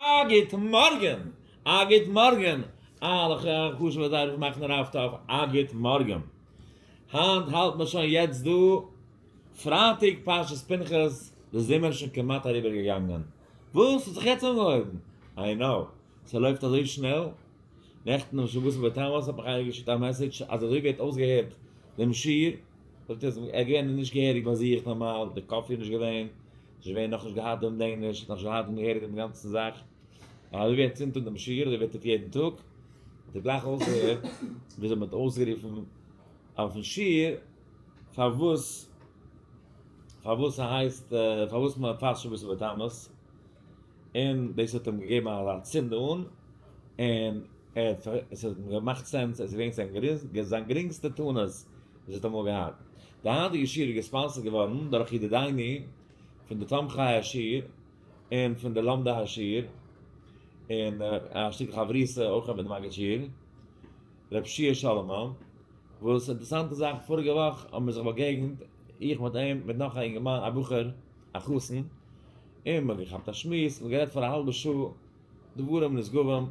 א גוט מארגען! א גוט מארגען! אלע חשובע דייווערס מאכן איר אויף טאפ א גוט מארגען! היינט האלט מען שוין יעצט דא פרייטאג פרשת פנחס די זומער שוין כמעט אריבער געגאנגען וואס האט זיך יעצט אנגעהויבן? איי נאו ס'לויפט אזוי שנעל נעכטן אום שבתון בתמוז האט מיך איינער געשיקט א מעסעדזש אז אזוי ווי ער האט אויסגעהערט דעם שיעור זאגט ער ער איז געווען נישט געהעריג ביי זיך נארמאל די קאפי איז נישט געווען ס'איז געווען נאך נישט געהאט דעם דעם נישט נאך נישט געהאט דעם געהעריג דעם גאנצן זאך אזוי ווי ער צינדט אן דעם שיגעעלע ווערט אויף יעדן טאג האט ער גלייך אויסגעהערט וויאזוי מ'האט אויסגערופן אויפן שיעור פארוואס פארוואס ס'הייסט פארוואס מ'פאסט שבת ובתמוז. און דאס האט אים געגעבן אזא צינד אן, און ער האט עס האט אים געמאכט סענס, עס איז געווען זיין גרינגסטע טענות וואס ער האט אמאל געהאט. די היינטיגע שיעור איז געספאנסערט געווארן דורך ידידינו פון די תומכי השיעור און פון די לומדי השיעור, און א שטיקל חברותא אויך מיט די מגיד שיעור ר' פשי' סאלאמאן, וואס אינטערעסאנטע זאך פאריגע וואך האבן מיר זיך באגעגנט איך מיט אים מיט נאך א אינגערמאן א בחור א חתן, און מ'האט געכאפט א שמועס, מ'האט גערעדט פאר א האלבע שעה דברים נשגבים,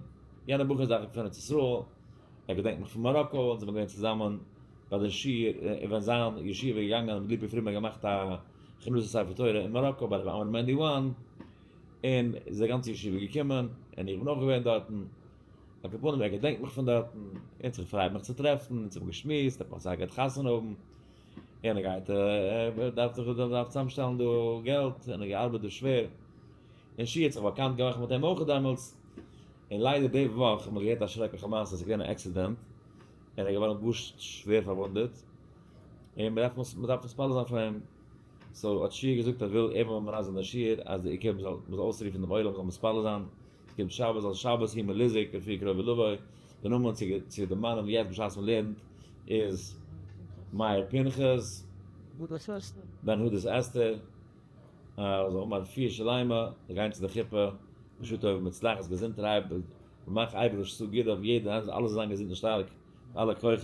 יענער בחור איז דאכציך פון ארץ ישראל, ער געדענקט מיך פון מאראקא, אונז זעמיר געווען צוזאמען ביי די שיעור, און ווען זיין ישיבה איז געגאנגען האט ליפא פרידמאן געמאכט א כינוס א ספר תורה אין מאראקא ביי ר' עמרם מענדי וואן, און איז די גאנצע ישיבה געקומען, און איך בין אויך געווען דארטן, על כל פנים ער געדענקט מיך פון דארטן, אונז כ'פריי מיך צו טרעפן, אונז האבן געשמועסט, ער האט מיך זייער גערט חתונה האבן, און ער גייט ער דארף זיך ער דארף צוזאמשטעלן דא געלט און ער האט געארבעט דא שווער און שי האט זיך באקאנט געמאכט מיט אים אויך דעמאלטס און ליידער די וואך האט מען געהערט א שרעקליכע מעשה עס איז געווען א עקסידענט און ער איז געווארן גאר שווער פארוואונדעט און מען דארף מיר דארף מתפלל זיין פאר אים סאו האט שי געזאגט אז וויל ער זאל מרמז זיין דער שי ר אז די עיקר מען זאל אויסרופן דעם עולם זאל מתפלל זיין כ'קום שבת אל שבת הי מליזק לפי קרובי לבוי, די נאמען צו צו די מנין יעצט בשעת מ'לערנט איז מאיר פנחס, בן הודת אסתר, אז זיי האבן א רפואה שלימה, זיי גייען צו די חופה, בשעה טובה ומוצלחת, געזונטערהייב, מ'מאך אייביג רש ס גיט אויף יעדן איינס אלע זאלן זיין געזונט און שטארק, אלע כוחות.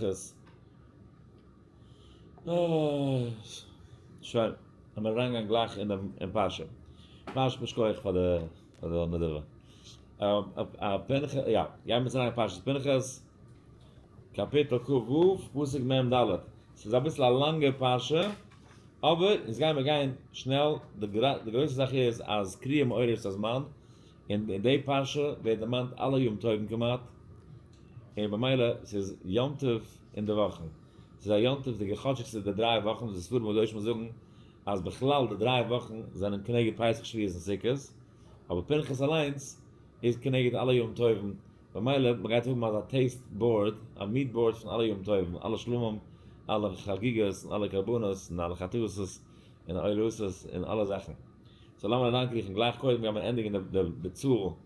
שוין, לאמיר אריינגיין גלייך אין דעם אין פרשה. ממש יישר כח פאר די. קאפיטל ק ו, פסוק מ ד, ס'איז אביסל א לאנגע פרשה, אבער אונז גיימער גיין שנעל, די גרויסע זאך איז אז קריעה מעוררת הזמן, און אין די פרשה ווערט דערמאנט אלע יום טובים כמעט, און במילא ס'איז יום טוב אינדערוואכן, ס'איז א יום טוב'דיגע חדשי'גס איז די דריי וואכן וואס די ספרים הקדושים זאגן אז בכלל די דריי וואכן זענען כנגד פסח שבועות און סוכות, אבער פנחס אליינס איז כנגד אלע יום טובים, במילא מען גייט האבן אזא טעיסט באורד, א מוט באורד פון אלע יום טובים, אלע שלומים, אלע חגיגות, און אלע קרבנות, און אלע חתוסות, און עולהוסות, און אלע זאכן. סאו לאמיר אריינקריכן גלייך קודם גיימיר ענדיגן די ביצוע.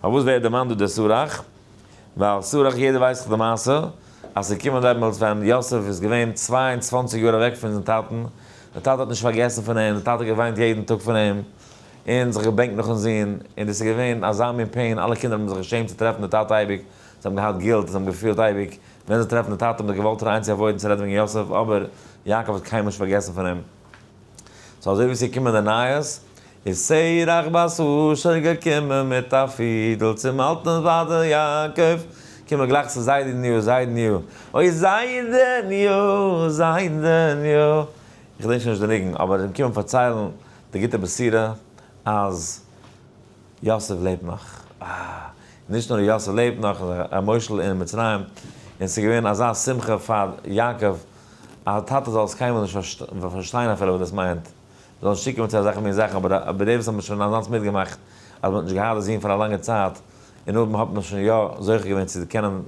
פארוואס ווערט דערמאנט דא דער שרח? ווייל שרח יעדער ווייסט דאך די מעשה אז ס'איז געקומען דעמאלטס ווען יוסף איז געווען צוויי און צוואַנציק יאר אוועק פון זיין טאטן, דער טאטע האט נישט פארגעסן פון אים, דער טאטע האט געוויינט יעדן טאג פון אים, און זיך געבענקט נאכן זון, און דאס איז געווען אזא מין פעין, אלע קינדער האבן זיך געשעמט צו טרעפן די טאטע אייביג, זיי האבן געהאט גילט, זיי האבן געפילט אייביג ווען זיי טרעפן די טאטע, האבן זיי געוואלט אריין צו עוואוידן צו רעדן וועגן יוסף, אבער יעקב האט קיינמאל נישט פארגעסן פון אים. סאו אזוי ווי ס'איז געקומען די נייעס איז שרח בת אשר געקומען מיט א פידל צום אלטן זיידע יעקב, קום מיר גלייך צו זיידעניו, זיידעניו, אוי זיידעניו, זיידעניו, איך געדענק שוין נישט די ניגון, אבער זיי האבן געקומען פארציילן די גוטע בשורה אז. יוסף לעבט נאך! אה! נישט נאר יוסף לעבט נאך, ר' מוישל אין מצרים, און ס'איז געווען אזא שמחה פאר יעקב, א טאטע זאל עס קיינמאל נישט פארשטיין אפילו וואס דאס מיינט, זיי זאלן שיקן מיט אזעלכע מין זאכן, אבער די וואס האבן שוין אזאנס מיטגעמאכט אז מ'האט נישט געהאט די זון פאר א לאנגע צייט, און אויב מ'האט מען שוין יא זוכה געווען צו קענען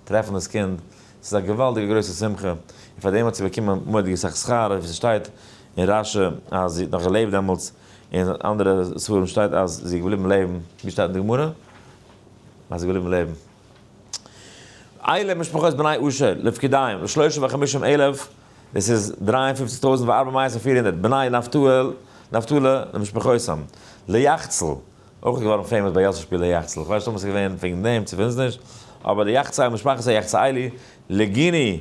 טרעפן דאס קינד, ס'איז א געוואלדיגע גרויסע שמחה, און פאר דעם האט זי באקומען מורא'דיגע סאך שכר, ווי ס'שטייט אין רשי אז זי האט נאך געלעבט דעמאלטס, אין אנדערע ספרים שטייט אז זי איז געבליבן לעבן, ווי שטייט אין די גמרא אז זי איז געבליבן לעבן? אלע משפחות בני אשר לפקידים ושלושים וחמישים אלף, דאס איז דרײַ און פֿופֿציק טויזנט וארבע מאות און פֿיר הונדערט בני נפתאל נפתלי למשפחותם, ליחצל, אויך איז געווארן פעימאס ביי יאסל שפירא יחצל, כ'ווייס נישט אויב עס איז געווען וועגן דעם צו ווען עס איז נישט, אבער ליחצאי משפחת היחצאילי לגיני,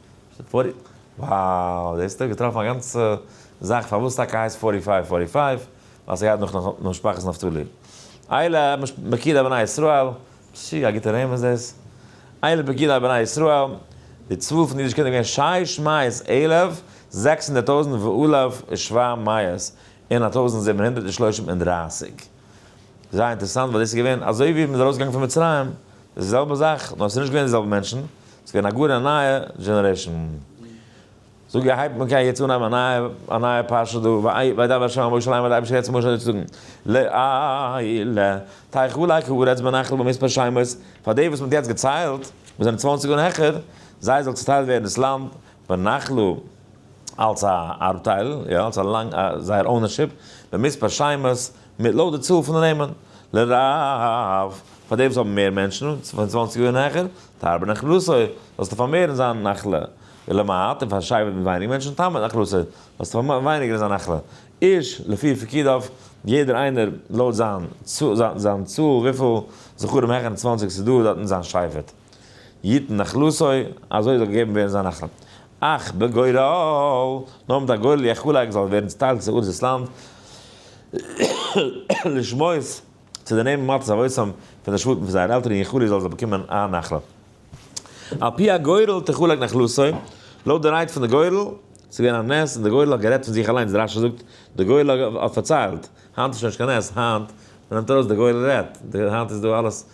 ס'איז פארטי, וואו! דאס האט ער געטראפן א גאנצע זאך פארוואס טאקע הייסט פארטי פייוו פארטי פייוו, ווייל ס'גייט נאך נאך משפחת נפתלי. אלה פקידי בני ישראל, פשי א גוטע נעם איז דאס, אלה פקידי בני ישראל, די צאל פון די אידישע קינדער איז געווען שש מאות אלף זעקס הונדערט טויזנט ואלף ושבע מאות און א טויזנט זיבן הונדערט און שלושים און דרייסיג. זייער אינטערעסאנט ווייל דאס איז געווען אזוי ווי מ'איז ארויסגעגאנגען פון מצרים, די זעלבע זאך, נאר עס איז נישט געווען די זעלבע מענטשן, עס איז געווען א גאר א נייע דזשענערעישאן. זאג איך הייבט מען קען יעצט אנהייבן א נייע א נייע פרשה דא, וידבר ה' אל משה לאמר די אייבערשטער רעדט צו משה אזוי צו זאגן, ל ע ל תיך אלי כי ארץ בנחל במספר שמות, פאר די וואס מען האט יעצט געציילט, וואס זענען צוואנציג און העכער, זיי זאל צוטיילט ווערן דאס לאנד בנחל אלס א ארבטייל, יא, אלס א זייער אונערשיפ, במספר שמות. מיט לויט די צאל פון די נעמען. לרב, פאר די וואס האבן מער מענטשן, פון צוואנציג און העכער, תרבה נחלתו, זאלסטו פארמערן זיין נחלה, ולמעט, און פאר שייווער מיט ווייניג מענטשן, תמעט נחלתו, זאלסטו פארמערן ווייניגער זיין נחלה. איש לפי פקידיו, יעדער איינער לויט זיין צאל וויפיל זכרים העכער צוואנציג ס'דא דארטן זיין שייווערט. יתן נחלתו, אזוי זאל געגעבן ווערן זיין נחלה. אך בגורל, נאר מיט א גורל יחולק זאל ווערן צוטיילט צו ארץ דאס לאנד, לשמות, צו דערנעמען מצות אבותם פון די שבטים פון זייערע עלטערן, יחולק זאל זיי באקומען א נחלה. על פי הגורל תחולק נחלתו, לויט די רייד פון די גורל, ס'איז געווען א נס און די גורל האט גערעדט פון זיך אליינס, די רשי זאגט, די גורל האט פארציילט, היינט איז שוין נישט קיין נס, היינט, מ'נעמט ארויס די גורל רעדט, היינט איז דא אלעס.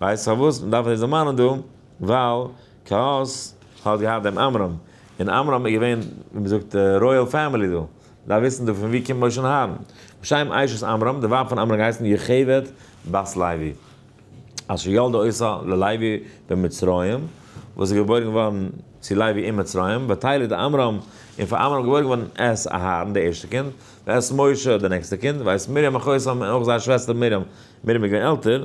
ווייסט פארוואס מען דארף דאס דערמאנען דא? ווייל קהת האט געהאט דעם עמרם, און עמרם איז געווען ווי מען זאגט רויעל פעמילי דא, מען דארף וויסן דא פון ווי קומט משה אהרן. בשם אשת עמרם, די ווייב פון עמרם האט געהייסן יוכבד בת לוי, אשר ילדה עושה ללוי במצרים, וואס איז געבוירן געווארן צו לוי אין מצרים, ותלד עמרם, און פאר עמרם איז געבוירן געווארן את אהרן די ערשטע קינד, ואת משה די נעקסטע קינד, ואת מרים אחות עמרם און אויך זייער שוועסטער מרים, מרים איז געווען עלטער.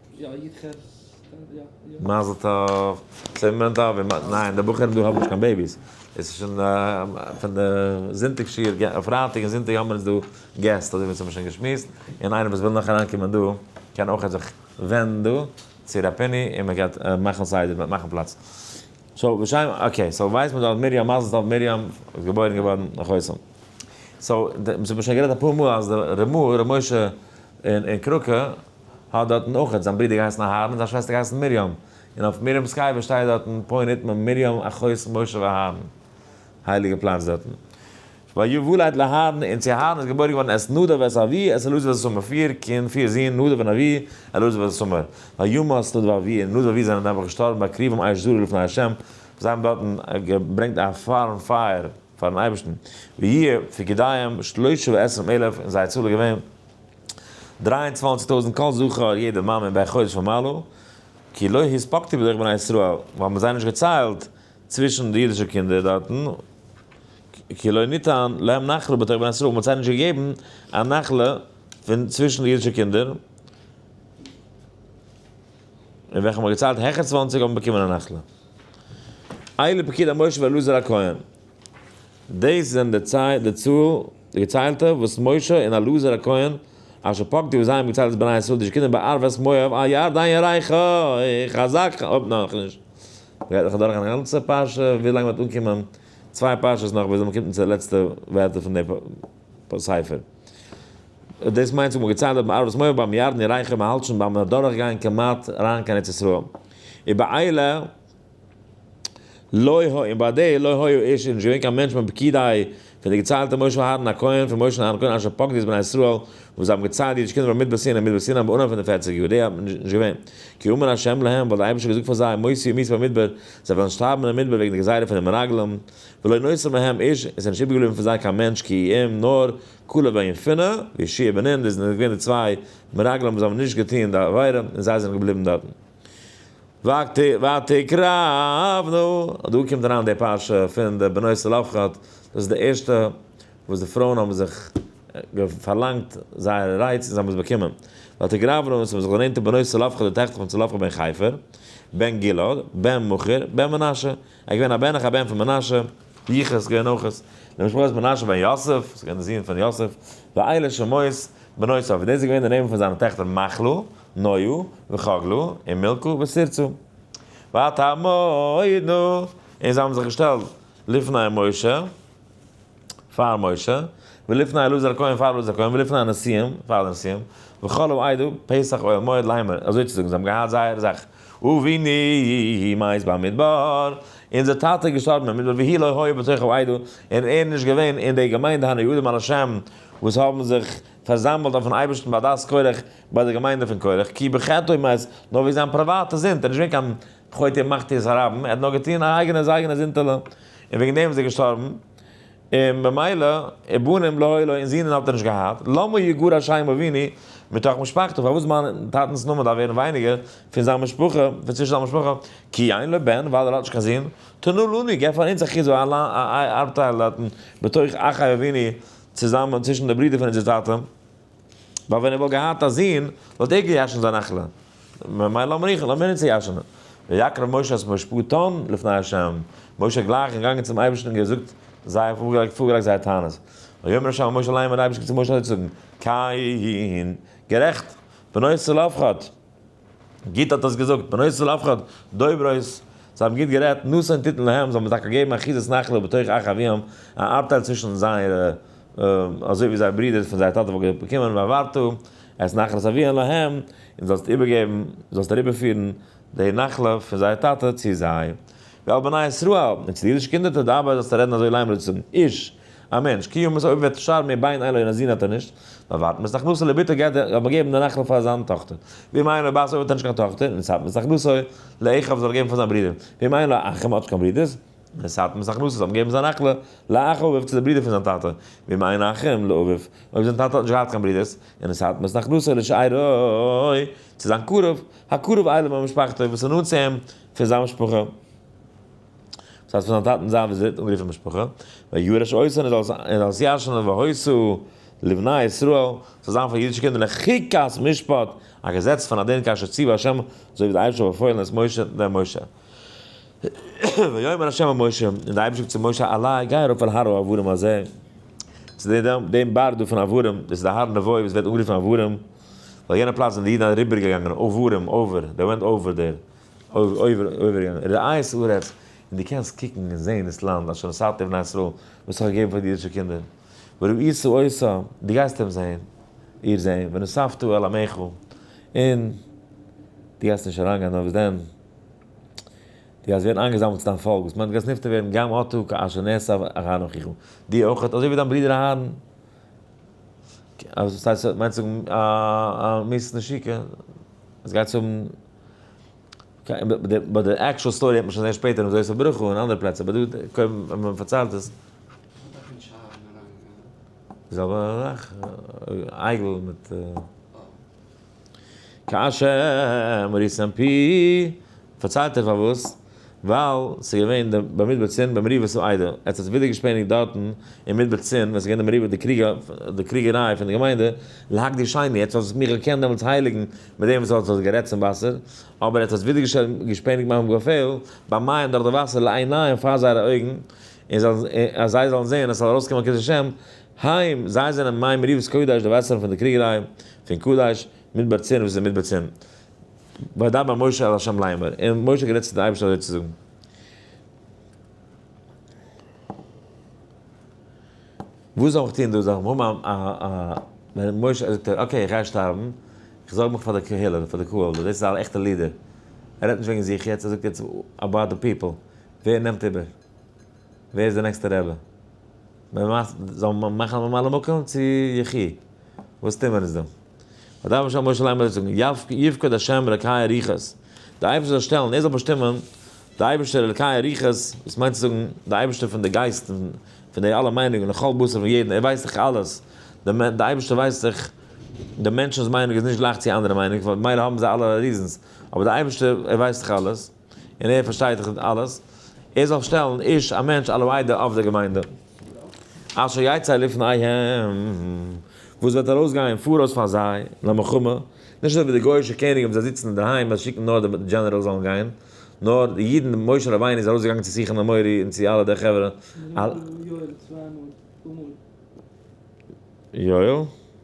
יא יתכן, יא יא. מזל טוב. ס'איז מ ד אב ע. ניין, די בחורים דא האבן נישט קיין בעיביס. עס איז שוין פון די זונטאג שיעור ג פרייטאג און זונטאג האבן מיר דא געסט אזוי ווי אונז האבן שוין געשמועסט. און איינער וואס וויל נאך אריינקומען דא קען אויך זיך ווענדן דא צו ר' פיני און מען גייט מאכן סדר, מ'וועט מאכן פלאץ. סאו בשם אקעי סאו ווייס מען דארט מרים מזל טוב מרים איז געבוירן געווארן אין חותם. סאו די מ'האט שוין גערעדט אפאר מאל אז די ר' משה אין קראקע האט דארטן אויכעט זיין ברודער געהייסן אהרן און זיין שוועסטער געהייסן מרים, און אויף מרים'ס קבר שטייט דארטן פוי נטמן מרים אחות משה ואהרן, הייליגע פלאץ דארטן. ויוולד לאהרן, און צו אהרן איז געבוירן געווארן את נדב ואת אבי את אלעזר ואת איתמר, פיר קינד, פיר זין, נדב און אבי, אלעזר ואת איתמר. וימות את נדב ואבי, און נדב ואבי זענען נעבעך געשטארבן בהקריבם אש זרה לפני ה', זיי האבן דארטן געברענגט א פארן פייער פארן אייבערשטן, ויהיו פקודיהם שלשה ועשרים אלף, און זייער צאל איז געווען. דרײַ און צוואַנציק טויזנט כל זכר יעדע מאמע ביי חודש ומעלה, כי לא הספקתי בדרך בני ישראל, ווייל מען זיי נישט געציילט צווישן די אידישע קינדער דארטן, כי לא ניתן להם נחלה בתוך בני ישראל, מען האט זיי נישט געגעבן א נחלה פון צווישן די אידישע קינדער, און וועלכע מען האט געציילט העכער צוואַנציק האבן באקומען א נחלה. אילו פקיד המושב אלעזר הכהן, דאס זענען די צאל די געציילטע וואס משה און אלעזר הכהן אשר פקדו וואס זיי האבן געציילט דאס בני ישראל די שקידים ביי ערבות מואב א יאר דיין ירח איך חזק אויב נאכנישט גייט נאך אדורך א גאנצע פרשה ווי לאנג מ'וועט אנקומען צוויי פרשות נאך ביז מ'קומט צו די לעצטע ווערטער פון די ספר דאס מיינט האבן געציילט דארט ביי ערבות מואב ביים ירדן ירח מ'האלט שוין ביים אדורך גיין כמעט אריין קיין ארץ ישראל איבער איילה. לא היה, און ביי די לא היה איש איז נישט געווען קיין מענטש בין פקידיו פון די געציילטע משה אהרן הכהן פון משה אהרן כהן אשר פקד את בני ישראל וואס זיי האבן געציילט די אידישע קינדער במדבר סיני אין מדבר סיני באנהייב פון די פֿערציק יאר די איז נישט געווען כי אמר השם להם ווייל דער אייבערשטער האט געזאגט פאר זיי מותי ומית במדבר זיי וועלן שטארבן אין מדבר וועגן די גזירה פון די מרגלים ולא נותר מהם איש עס איז נישט איבערגעבליבן פון זיי קיין מענטש כי אם נאר כלב בן יפונה וישי בן נון דאס זענען געווען די צוויי מרגלים וואס האבן נישט געטון די עבירה און זיי זענען געבליבן דארטן. ותקרא אבנו, דא קומט אריין די פרשה פון די בנות צלפחד, דאס איז די ערשטע וואס די פרויען האבן זיך פארלאנגט זייער רייץ און זיי האבן עס באקומען, ותקרא אבנו, און עס האבן זיך דערנענטערט די בנות צלפחד די טעכטער פון צלפחד בן חיפר, בן גלעד, בן מכר, בן מנשה, ער איז געווען א בן אח א בן פון מנשה, יחוס איז געווען אויך די משפחה איז מנשה בן יוסף, עס איז געווען די זון פון יוסף, ואלה שמות בנות צלפחד, דאס איז געווען די נעמען פון זיינע טעכטער, מחלה. נויו וחגלו און מילקו וסירצו ואת המועד נא און זיי האבן זיך געשטעלט לפני משה פאר משה ולפני אלעזר הכהן פאר אלעזר הכהן ולפני הנשיאים פאר די נשיאים וכל העדה פסח אוהל מועד ליימער אזוי צו זאגן זיי האבן געהאט זייער זאך אבינו מת במדבר אונזער טאטע איז געשטארבן אין מדבר והי' לא היה בתוך העדה און ער איז נישט געווען אין די געמיינדע הנודעים על השם וואס האבן זיך פארזאמלט אויפן אייבערשטן ביי דעת קורח ביי די געמיינדע פון קורח כי בחטאו מת, נאר וועגן זיין פריוואטע זינד, ער איז נישט געווען קיין חוטא מחטיא זיין רבים, ער האט נאר געטון א אייגענע זיין אייגענע זינדעלע, און וועגן דעם איז ער געשטארבן, און במילא ובנים לא היו לו און זינען האט ער נישט געהאט, למה יגור השי ם אביני מתוך משפחתו, פארוואס מיין טאטנס נאמען דארף ווערן ווייניגער פון זיין משפחה, פון צווישן זיין משפחה, כי אין לו בן, ווייל ער האט נישט קיין זון, תנו לנו, געב פאר אונז א כיסוי א ארבטייל דארטן בתוך אחי אביני צוזאמען צווישן די ברידער פון אונזער טאטע, ווייל ווען ער וואלט געהאט א זון, וואלט ער געיאשנט זיין אכלה, ממילא האבן מיר איכער, לאמיר אונז צויאשענען. ויקרב משה את משפטן לפני ה', משה איז גלייך געגאנגען צום אייבערשטן און געזאגט זייער, פארגעלייגט זייער טענות. ויאמר ה' אל משה למה, דער אייבערשטער קומט צו משה אזוי צו זאגן, כיין, גערעכט, בנוסח אל אף אחד. גוט האט דאס געזאגט, בנות ישראל אף אחד, דוברות, זיי האבן גוט גערעדט, נשא און טיטן להם, זיי האבן טאקע געגעבן אחיזת נחלה בתוך אח אביהם, א אפטייל צווישן זייערע, אזוי ווי זייער ברודער פון זייער טאטע וואלט באקומען, והעברת את נחלת אביהם להם, און זאלסט איבערגעבן, זאלסט אריבערפירן, די נחלה פון זייער טאטע צו זיי. ועל בני ישראל, און צו די אידישע קינדער תדבר זאלסטו רעדן אזוי להם רצון איש, א מענטש, קיומעס אויב וועט שרן מיר ביין איין לוין א זון האט ער נישט, נאר ווארט מ'ס הכנסה לביתו גייט ער אבער געבן די נחלה פאר זיין טאכטער, ואם אין לו בת אויב האט ער נישט קיין טאכטער, נשאת מ'ס הכנסה לאחיו זאל ער געבן פאר זיין ברודער, ואם אין לו אחים האט נישט קיין ברודערס, נשאת מ'ס הכנסה זאל מען געבן זיין נחלה לאחיו צו די ברודער פון זיין טאטע, ואם אין אחים לאביו אויב זיין טאטע האט נישט געהאט קיין ברודערס, נשאת מ'ס הכנסה לשאירו צו זיין קרוב, הקרוב אליו ממשפחתו וואס איז נאנט צו אים פון זיין משפחה. דאס הייסט פון זיין טאטן זיין וויזיט און רופן משפחה, ויורש אויס און ער זאל עס ירש'נען והוסיו לבני ישראל, ס'זאל זיין פאר אידישע קינדער לחוקת משפט, א געזעץ פון א דין כאשר ציוה השם, אזוי ווי דער אייבערשטער האט באפוילן את משה דעם משה. ויאמר השם אל משה, און דער אייבערשטער זאגט צו משה, עלה, גיי ארויף אל הר העברים הזה, צו דעם בארג דא פון עברים, דאס איז דער הר נבו וואס ווערט אנגערופן עברים, ווייל יענע פלאץ זענען די אידן אריבערגעגאנגען עברים, over, they went over there, אויבעריין, רעיס הארץ, און דו קענסט קוקן און זען דאס לאנד אשר נשאתי לבני ישראל, וואס איך האב געגעבן פאר די אידישע קינדער, וראית עושה, דו גייסט אים זען, איר זען, ונוספת אל עמיך, און דו גייסט נישט אריינגיין, נאר וואס דען, דו גייסט ווערן איינגעזאמלט צו דיין פאלק, וואס מיינט דו גייסט נפטר ווערן, גם אתה כאשר נעשה אהרן אחיך, דו אויך, אזוי ווי דיין ברודער אהרן, מיינט צו זאגן א מות נשיקה, עס גייט צו האבן. באט די עקשול סטארי וועט מען שוין זעהן שפעטער אין זושא ברכו און אנדערע פלעצער באט דא קודם ווען מען פארציילט עס זאל מען זאך אייגל מיט קאשע מוריסן פי פארציילט ער פארוואס ווייל ס'איז געווען די ביי מדבר צין ביי מריבה ס'איז איידער עס האט זיך ווידער געשפעניגט דארטן אין מדבר צין ווען ס'איז געווען די מריבה די קריג די קריגעריי פון די געמיינדע להקדיש שני עטס האט זיך מיך געקענט דעמאלטס הייליגן מיט דעם וואס האט זיך גערעדט צום וואסער אבער עטס האט ווידער געשפעניגט מיין געפיל ביי מים דורך די וואסער לעיניהם פאר זייערע אויגן און זיי און אז זיי זאלן זען עס זאל ארויסקומען קידוש השם היים זיי זענען מים מריבת קודש די וואסערן פון די קריגעריי פון קדש מדבר צין וואס איז אין מדבר צין. וידבר משה אל השם לאמר, און משה האט גערעדט צו די אייבערשטער אזוי צו זאגן. וואס זאל איך טון דא זאגן וואו מיין א א ווען משה זאגט ער אקעי איך גיי שטארבן, איך זארג מיך פאר די קהילה פאר די קהל, דאס איז א עכטע לידער, ער רעדט נישט וועגן זיך יעצט, ער זאגט יעצט אבאוט די פיפל, ווער נעמט איבער? ווער איז די נעקסטע רבי? זאל מען מאכן ממלא מקום צו יחי? וואס טוהן מיר אונז דא? ודבר אשר משה לאמר זאגן, יפקוד השם אלקי אריכות, דער אייבערשטער זאל שטעלן, ער זאל באשטימען, דער אייבערשטער אלקי אריכות, דאס מיינט צו זאגן, דער אייבערשטער פון די גייסטן, פון די אלע מיינונגען, לכל בשר פון יעדן, ער ווייסט דאך אלעס, דער אייבערשטער ווייסט דאך, די מענטשנ'ס מיינונג איז נישט גלייך צו אנדערע מיינונג, ממילא האבן זיי אלע ריזענס, אבער דער אייבערשטער, ער ווייסט דאך אלעס. און ער פארשטייט דאך ניט אלעס, ער זאל שטעלן איש א מענטש הלואי דער אב דער געמיינדע, אשר יצא לפניהם, וואס וועט ארויסגיין פאראויס פאר זיי למלחמה, נישט אזוי ווי די גוי'אישע קעניגן וואס זיי זיצן אינדערהיים און שיקן נאר די דזשענעראלס זאלן גיין, נאר די אידן, משה רבינו איז ארויסגעגאנגען צו שיחון האמורי און צו אלע די חברה, יואל?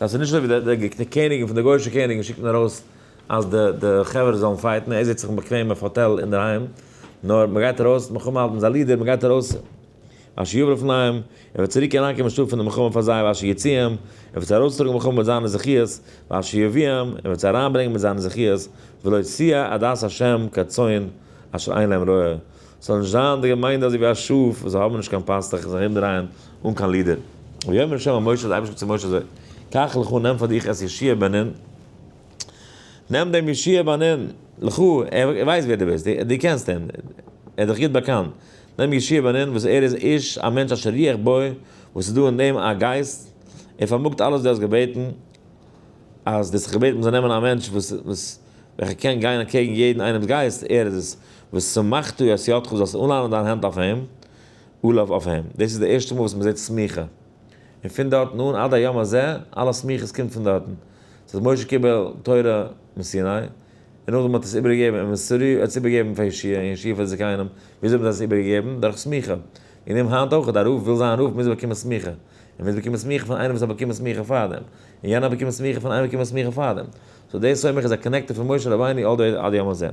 דאס איז נישט אזוי ווי די קעניגן פון די גוישע קעניגן שיקט מען ארויס אז די די חברה זאלן פייטן, ער זיצט זיך באקוועם אויף האטעל אינדערהיים, נאר מען גייט ארויס מלחמה האלט מען זיי לידער מען גייט ארויס אז שיבער אויפן אים, ער וועט צוריק אריינקומען שטארק פון די מלחמה פאר זיי וואס שיוציאם, ער וועט זיי ארויסטראגן מלחמה מיט זיינע זכיות וואס שיביאם, ער וועט זיי אריינברענגען מיט זיינע זכיות ולא ציה עדת השם כצאן אשר אין להם רועה. ס'זאל נישט זיין די געמיינדע אזוי ווי א שאף וואס זיי האבן נישט קיין פאסטעך און זיך ארומדרייען אן קיין לידער. ויאמר ה' אל משה, די אייבערשטער זאגט צו משה אזוי, קח לך נעם פאר דיך את ישי בנין, נעם דעם ישי בנין, לך, ער ווייסט ווער דו ביסט, דו קענסט אים, ער איז דיך גוט באקאנט, נעם ישי בנין וואס ער איז איש א מענטש אשר ריח בו, וואס איז דא אין אים א גייסט, ער פארמאגט אלעס וואס דו האסט געבעטן, אז דו האסט זיך געבעטן מ'זאל נעמען א מענטש וואס. וועלכער קען גיין אנטקעגן יעדן איינעמס גייסט, ער איז עס, ושמחתי את ידך זאלסט אנלאנען דיין האנט אויף אים, אוליו אויף אים. דאס איז די ערשטע מאל וואס מען זעט סמיכה. און פון דארטן אן עד היום הזה, אלע סמיכות קומט פון דארטן. עס האט משה קיבל תורה מסיני, און נאכדעם האט ער עס איבערגעגעבן און מסרו האט עס איבערגעגעבן פאר ישעי', און ישעי' פאר די זקנים. וויאזוי האבן זיי עס איבערגעגעבן? דורך סמיכה. און אים היינט אויך, א רב וויל זיין רב מוז ער באקומען סמיכה. און מוז באקומען סמיכה פון איינעם וואס האט באקומען סמיכה פארדעם. און יענער האט באקומען סמיכה פון איינעם וואס האט באקומען סמיכה פארדעם. סאו דער סומך איז א קאנעקטער פון משה רבינו אל דער עד יום הזה.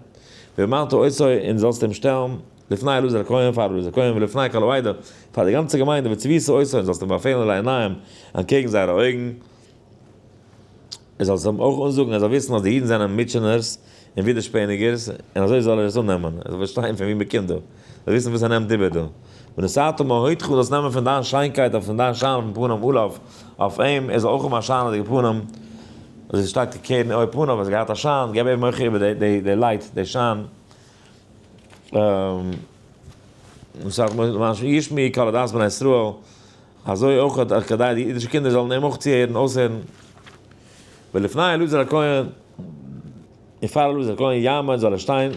ובמעלתו עושה און זאלסט אים שטעלן לפני אלעזר הכהן פאר אלעזר הכהן ולפני כל העדה פאר די גאנצע געמיינדע וצביסו עושה און זאלסט אים באפעלן לעיניהם אנטקעגן זייערע אויגן און זאלסט אים אויך אנזאגן ער זאל וויסן אז די אידן זענען מוטשענערס און ווידערשפעניגערס און אזוי זאל ער עס אננעמען ער זאל פארשטיין פון וואו מען קומט דא. זיי וויסן וואס ער נעמט איבער דא. ונשאת מעל הודך, זאלסט נעמען פון דיין שיינקייט אויף פון דיין שיין אויפן פנים אליו, אויף אים, ער זאל אויך האבן א שיינעדיגע פנים, אזוי ווי שטייט כקרן אור פניו, ער האט געהאט א שיין, געב אים אויך איבער די לייט, די שיין. ונשאת מעל הודך, למען ישמעו יקא לדעת בני ישראל, אזוי אויך האט כדי די אידישע קינדער זאלן אים אויך צוהערן, אויסהערן. ולפני אלעזר הכהן, און פאר אלעזר הכהן יעמוד זאל ער שטיין.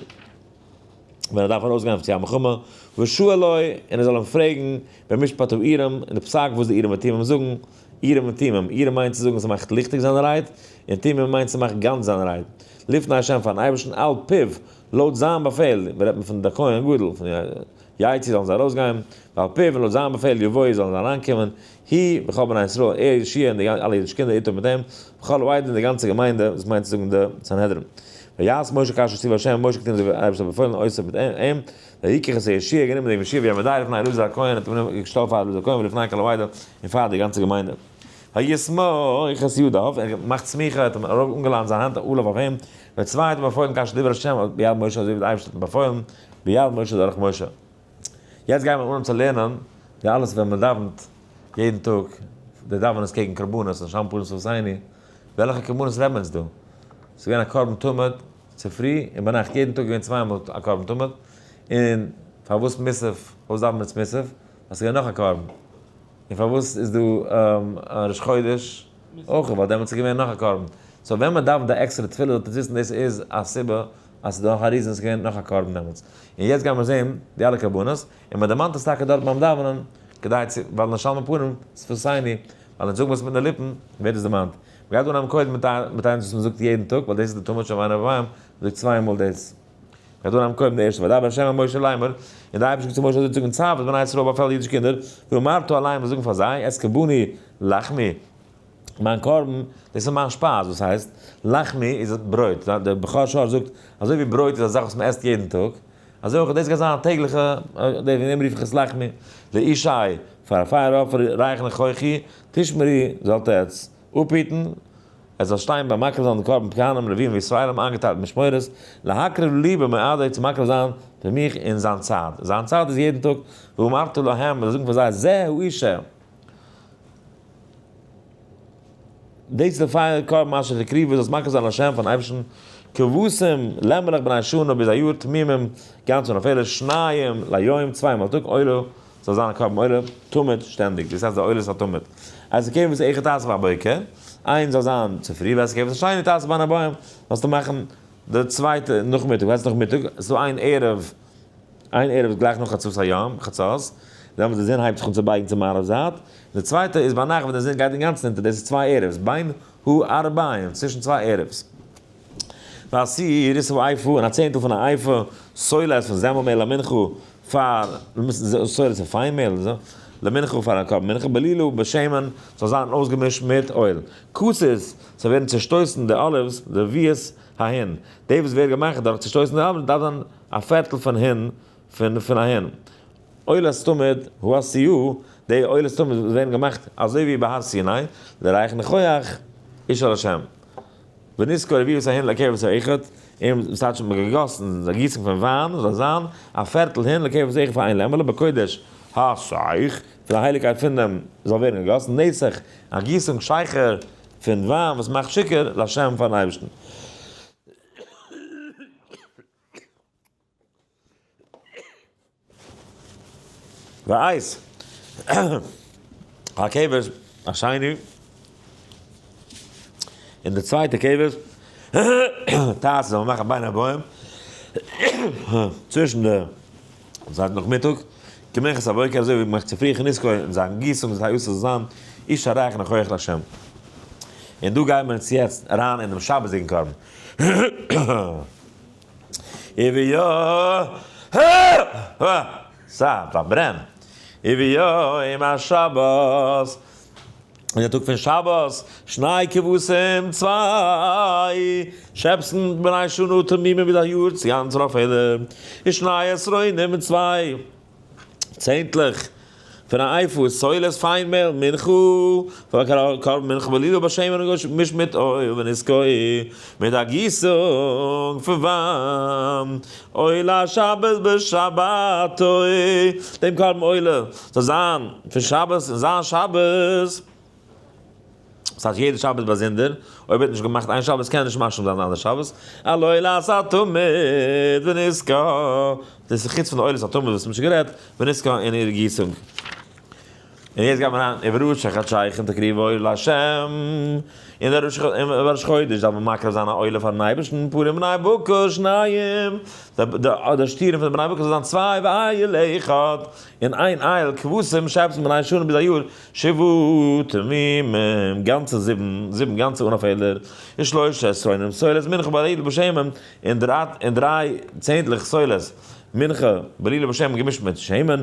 ווען ער דארף ארויסגיין אויף צו א מלחמה, ושאל לו, און ער זאל אים פרעגן, במשפט אויף אירם, אין די פסק וואס די אירם און תימם זאגן, אירם און תימם, אירם מיינט צו זאגן ס'מאכט ליכטיג זיין רייד, און תימם מיינט ס'מאכט גאנץ זיין רייד, לפני השם פארן אייבערשטן על פיו, לויט זיין באפעל, מ'רעדט מען פון די כהן הגדול, פון יצא זאלן זיי ארויסגיין, ועל פיו און לויט זיין באפעל יבואו זאלן זיי אריינקומען, הי וכל בני ישראל, ער, ישעי', און די אלע אידישע קינדער איתו מיט אים, וכל העדה און די גאנצע געמיינדע, דאס מיינט צו זאגן די סנהדרין. ויעש משה כאשר ציוה השם, משה האט געטון אזוי ווי דער אייבערשטער האט באפוילן, אויסער מיט אים, ויקח את הישעיה, גענומען דעם ישעיה ווי א מעדאל לפני אלעזר הכהן, און האט אים געשטעלט פאר אלעזר הכהן ולפני כל העדה, און פאר די גאנצע געמיינדע. ויסמוך את ידיו, ער האט געמאכט סמיכה, האט אים ארויף אנגעלייענט זיין האנט ארויף אויף אים, וצוואה האט אים באפוילן כאשר דיבר השם, ביד משה אזוי ווי דער אייבערשטער האט אים באפוילן, ביד משה דורך משה. יעצט גייען מיר אן צו לערנען די אלעס ווען מען דאווענט יעדן טאג, די דאווענעס קעגן קרבנות און שמפוין'ס הוסייני, וועלכע קרבנות רעדן מיר אונז דא? ס'איז געווען א קרבן תמיד צופרי און ביינאכט, יעדן טאג איז געווען צוויי מאל א קרבן תמיד, און פארוואס מוסף, פארוואס דאווען מיר איצט מוסף? ווייל ס'איז געווען נאך א קרבן, און פארוואס איז דא ראש חודש אויך? ווייל דעמאלטס איז געווען נאך א קרבן, סאו ווען מען דאווענט א עקסטערע תפילה זאלט איר וויסן דאס איז א סיבה אז ס'דא נאך א ריזן, ס'געווען נאך א קרבן דעמאלטס, און יעצט גייען מיר זעהן די אלע קרבנות, און מען דערמאנט עס טאקע דארט ביים דאווענען, כדי צו, ווייל נשאל מפנים, ס'פארסייני, ווייל אונז זאגן עס מיט די ליפן, ווערט עס דערמאנט. מ'גייט אנהייבן קודם מיט מיט איינס וואס מ'זאגט יעדן טאג, ווייל דאס איז די טעמא של ואני ובאים, מ'זאגט צוויי מאל דאס. מ'גייט אנהייבן קודם די ערשטע, וידבר ה' אל משה לאמר, און דער אייבערשטער האט צו משה אזוי געזאגט, צוו את בני ישראל באפעל די אידישע קינדער, ואמרת אליהם, און זאגן פאר זיי, את קרבני לחמי, מיין קרבן, דאס איז מיין שפייז, וואס הייסט, לחמי איז ברויט, דער בכור שוהל זאגט, אזוי ווי ברויט איז א זאך וואס מען עסט יעדן טאג, אזוי אויך דאס גייט זיין א טעגליכע, וועגן דעם רוף איך עס לחמי, לאישי, פאר א פייער אפער, רייכן איך אויך איר, תשמרי, זאלט עטץ אפהיטן, עס זאל שטיין ביים מקריב זיין דעם קרבן כהנים, לווים וישראלים איינגעטיילט אין משמורות, להקריב לי במועדו, צו מקריב זיין פאר מיך אין זיין צייט, זיין צייט איז יעדן טאג, ואמרתי להם, און זאגן פאר זיי, זה האיש ש. דאס די פייער קאר מאשין די קריוו וואס מקריב זיין השם פארן אייבערשטן כבשים לעמעלעך בני שנה ביז א יאר תמימים גאנץ אן א פעלער שניים ליום צוויי מאל א טאג עולה זאל זיין א קרבן עולה תמיד שטענדיג דאס הייסט די עולות א תמיד אז די קעוועס איכער טייסט ביי בוקר איין זאל זיין צופרי ווען ס'קעוועס א שיינע טייסט ביין א בוים זאלסטו מאכן די צווייטע נאכמיטאג ווען ס'איז נאכמיטאג ס'איז דא איין ערב איין ערב איז גלייך נאך חצות היום, חצות, דאן ווען די זון הייבט זיך אן צו בייגן צו מערב זייט, און די צווייטע איז ביינאכט ווען די זון גייט אינגאנצן אונטער, דאס איז צוויי ערב'ס, בין הארבעים, צווישן צוויי ערב'ס. ועשיריתו אייפא, און א צענטל פון א אייפא, סולת פון זעמל מעהל למנחה, פאר, סולת פון פיין מעהל, למנחה פאר א קרבן מנחה, בלילא בשמן, ס'זאל זיין אויסגעמישט מיט אויל. כוסות, ס'זאל ווערן צעשטויסן די אליווס, די וויעס, אהן, די וואס ווערט געמאכט דורך צעשטויסן די אליווס דארף זיין א פערטל פון הון פון פון א הון. עולת תמיד הוא א סי או, די עולת תמיד וואס ווערן געמאכט אזוי ווי ביי הר סיני, די רייכע ניחוח איז של השם. ונזכור רביעות ההון לקרבת האחד, און וואס טייטש מ'האט געגאסן, די גיסונג פון וויין זאל זיין א פערטל הון לקרבת האחד פאר איין לעמעלע בקודש האסיף, פון די הייליגקייט פון דעם זאל ווערן געגאסן נסך, א גיסונג שייכער פון וויין וואס מאכט שיכור, להשם פארן אייבערשטן. וואיז א קבר השני און די צווייטע קבר טאטע זאל מען מאכן בין הבאים צווישן די זייט נאכמיטאג, כמנחות הבוקר, אזוי ווי מ'מאכט צופרי חנוכּה און זיין גיסונג איז היו עשה זיין איש הרייך נוכח לה'. און דא גייען מיר אונז יעצט אריין אינעם שבת'דיגן קרבן. און ווי יא, הא! סא, פארברען. און ווי יא, אום השבת. אין די טאג פון שבת, שניי כבשים צוויי, שעפסן בני שנה תמימים ווי די יאר צו גאנץ ראפעלע, און שניי עשרונים מיט צוויי צענטלעך פון א אייפוס סולת פיין מעל מנחה פאר קרבן מנחה בלילה בשם און גשם מיש מיט אויל ונזכור מיט א גיסונג פון וויין. עולה שבת בשבתו, דעם קרבן עולה זאל זיין פון שבת און זיין שבת, דאס הייסט יעדע שבת באזונדער, אויב ער האט נישט געמאכט איין שבת קען ער נישט משלים זיין די אנדערע שבת, על עולת התמיד ונזכה, דאס איז חוץ פון די עולת התמיד וואס מ'האט שוין גערעדט, ונזכה און איר גיסונג. און יעצט גייט מען אריין איבער ראש החדשייך און תקריבו אור לה', און דער ראש און ראש חודש דארף מען מקריב זיין א עולה פארן אייבערשטן, פורים בני בקר שניים, די שטרן פון די בני בקר זאל זיין צוויי ואייל אחד, און איין אייל כבשים שעפּסן פון איין שנה ביז א יאר, שבעת ימים, גאנצע זיבן, זיבן גאנצע אן א פעלער, און שלשה עשרונים סולת מנחה בעליל בשמן, און דריי צענדליך סולת מנחה בעליל בשמן געמישט מיט שמן,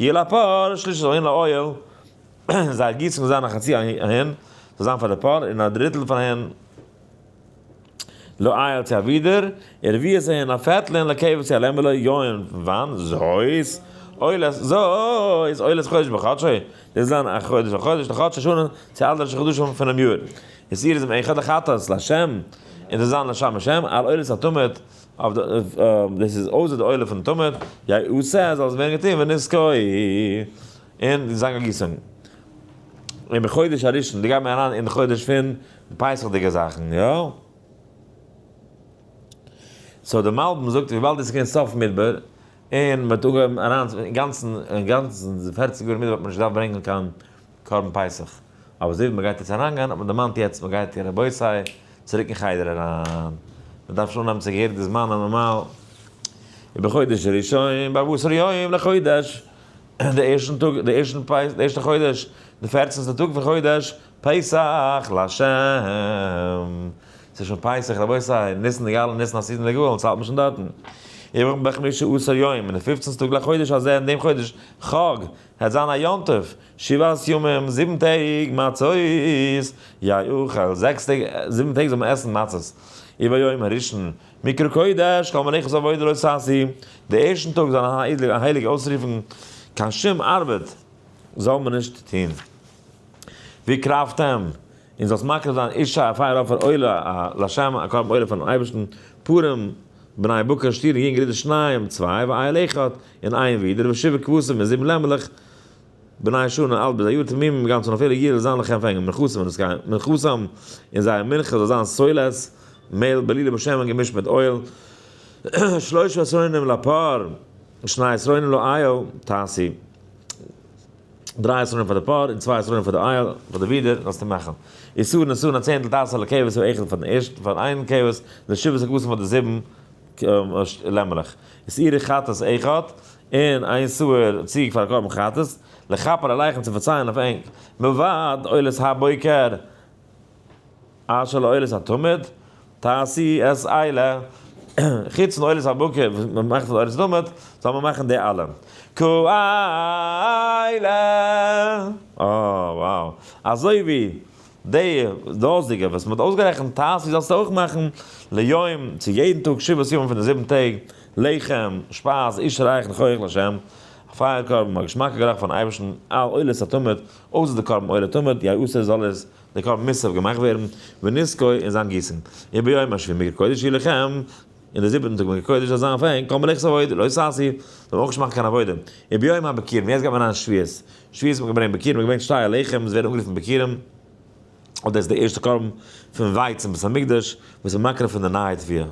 יעל א פאר שליש אהן לאויל און זיי גיסן זיין א חצי אהן זאל זיין פאר די פאר און א דריטל פאר אהן לאויל צו א ווידער ערביות אהן א פערטל אהן לעקעווע צו א לעמבעלע יוין פון וויין זויס אויל זויס אויל איז חודש בחדשו דאס זיין א חודש א חודש לחדש השנה צו אלע ראשי חדשים פונעם יאר איז אירז עם אחד לחטאת לשם און זאל זיין לשם השם על אויל איז א תמיד אויף די אויף דאס איז אויסער די עולה פון תמיד, יי ו סע זאל עס ווערן געטון ונזכור אין די זאנג הגיסונג אין די חודש הראשון די גייט מען אריין אין חודש פון די פסח'דיגע זאכן יא סאו די מלבים זאגט וויבאלד עס איז געווען סוף מדבר אין מען האט אנגעהויבן אריין אינגאנצן אינגאנצן די פערציג יאר מדבר האט מען נישט געדארפט ברענגען קיין קרבן פסח, אבער אזוי ווי מען גייט יעצט אריינגיין האט מען דערמאנט יעצט מען גייט און רבותי צוריק אין חדר אריין, מען דארף שוין אנהייבן צו געהעריג די זמן הנארמאל ווי בחודש הראשון בארבעסער יום לחודש, די ערשטן טאג די ערשטן פסח די ערשטע חודש די פערצענסטע טאג פון חודש פסח לה', ס'איז שוין פסח רבותי ניסן נגאלין ניסן הסידן נגאלין אונז האלט מען שוין דארטן, יום בחמישה עשר יום און די פופצנסטע טאג לחודש הזה אין דעם חודש חג העט זיין א יום טוב, שבעת ימים, זיבן טעג מצות יאכל, זעקס טעג, זיבן טעג זאל מען עסן מצות, וביום הראשון מקרא קודש, כל מלאכת עבודה לא תעשי, די ערשטן טאג זאל זיין הייליג אויסרופן, קיין שום ארבעט זאל מען נישט טון, ווי קרבתם, און זאלסט מקריב זיין אישה א פייער אפער עולה לה', א קרבן עולה פארן אייבערשטן, פורים. בני בקר און שטיר און יונגער אידער שניים צוויי ואייל אחד און איין ווידער ושבע כבשים און זיבן לעמעלעך בני שנה אלט ביז א יאר תמים און גאנצען אויף אלע יער זאל זיין לכם פארהענגען מנחתם און עס גיין מנחתם און זייער מנחה זאל זיין סולת מעל בלילה בשמן געמישט מיט אויל שלושה עשרונים לפר און שני עשרונים לאייל תעשי. דריי עשרונים פאר די פאר און צוויי עשרונים פאר די אייל, פאר די ווידער זאלסטו מאכן איסור נסון א צענדל תעשה לכבש און איכות פאר דעם ערשטן פאר איין כבש די שבע סוכותים פאר די זיבן לעמעלעך איז אירע חטאת איכות און איין סוער ציג פאר א קרבן חטאת לכפר עליכם צו פארצייען אויף ענק מלבד עולת הבוקר אשר לאוהלת התמיד, תעשי עס איילה, חוץ פון אוהלת הבוקר וואס מען מאכט פון אוהלת התמיד, זאל מען מאכן די אלע. ק איילה. אה wow. אזוי ווי די דאזיגע וואס מען האט אויסגערעכנט תעשי זאלסטו אויך מאכן ליום צו יעדן טאג שבעת ימים פון די זיבן טעג, לחם, שפייז, איש רייך נכוח לשם, א פייער קרבן, א געשמאקע גערוך פארן אייבערשטן, אל אוהלת התמיד, אויסער די קרבן עולה תמיד די היעשה זאל עס די קרבן מוסף געמאכט ווערן ונזקו און זיין גיסן און ביום השביעי מקוה קודש יהיה לכם און די זיבעטן טאג מקוה קודש זאל זיין אויף אים כל מלאכת עבודה לא תעשי זאל מען אויך נישט מאכן קיין עבודה און ביום הבקירים יעצט גייט מען אריין שביעית שביעית האט מען געברענגט בקירים מען האט געברענגט שתי עליכם עס ווערן אנגערופן בקירים. אדער איז די ערשטע קרבן פון ווייץ אין בית המקדש וואס איז מקריב פון די נייע תפילה.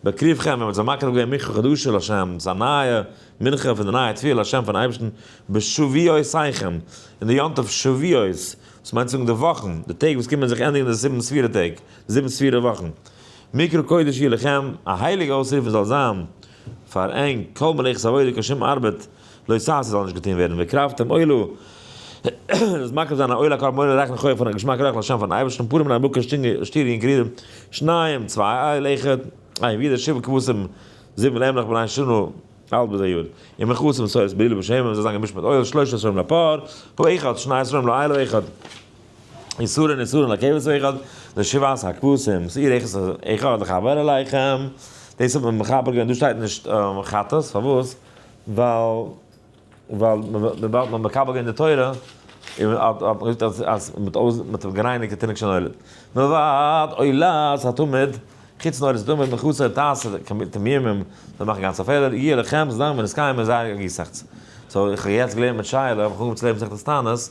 בקריב חמר ווען מען זאל מקריב געבן מנחה קדושה להשם, דאס איז א נייע מנחה פון די נייע תפילה להשם פארן אייבערשטן בשבועותיכם, אין די יום טוב שבועות, דאס מיינט צו זאגן די וואכן, די טעג וואס קומען זיך ענדיגן די זיבן ספירה טעג, די זיבן ספירה וואכן. מקרא קודש יהיה לכם, א הייליגע אויסרוף זאל זיין. פאר ענק, כל מלאכת עבודה קיין שום ארבעט לא תעשה זאל נישט געטון ווערן, והקרבתם עולה, דאס מקריב זיין א עולה א קרבן עולה רייכן חוה פון א געשמאק ריח לשם פארן אייבערשטן פורים און א בוקע שטירן אין קריר שניים צוויי איי לעכער איי ווידער שבע כבשים זיבן לעמלעך בני שנה אלט בזה יוד און מכסים סוירס בלילה בשמן זיי זיין געמישט מיט אויל שלושה סרוים לפאר פאר אחד שני סרוים לאילה אחד. איסורין איסורין לעכבת אחד, די שבעת הכבשים, שעיר עכת אחד לחבר אליכם, דאס האט מען מחבר געווען, דא שטייט נישט חטאת, פארוואס? ווייל ווייל וויבאלד מ'האט מקבל געווען די תורה, און האט מען געזאגט אז אז מ'האט זיך גערייניגט די תינוק שנולד, מלבד עולת התמיד, חוץ פון עולת התמיד, מכסה תעשה תמימים, זיי מאכן גאנצע פעלער, יהיה לכם זדון ונזקיים, און זייער גיסאכץ. סאו איך האב יעצט געלערנט מיט שייעלע, איך האב אנגעהויבן צו לערנען מסכת תענית,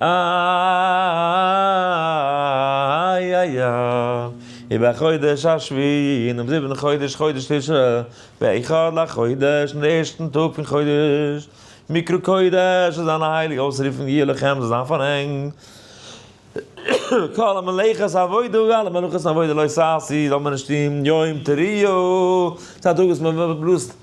איי איי איי איבער חודש השביעי אינעם זיבעטן חודש חודש תשרי באחד לחודש אין די ערשטן טאג פון חודש מקרא קודש איז אן הייליג אויסרופן יהיה לכם זאל זיין פאר ענק כל המלאכת עבודה אלע מלאכות עבודה לא תעשי זאל מען נישט טון יום תריעו ס'איז א טאג וואס מען בלאזט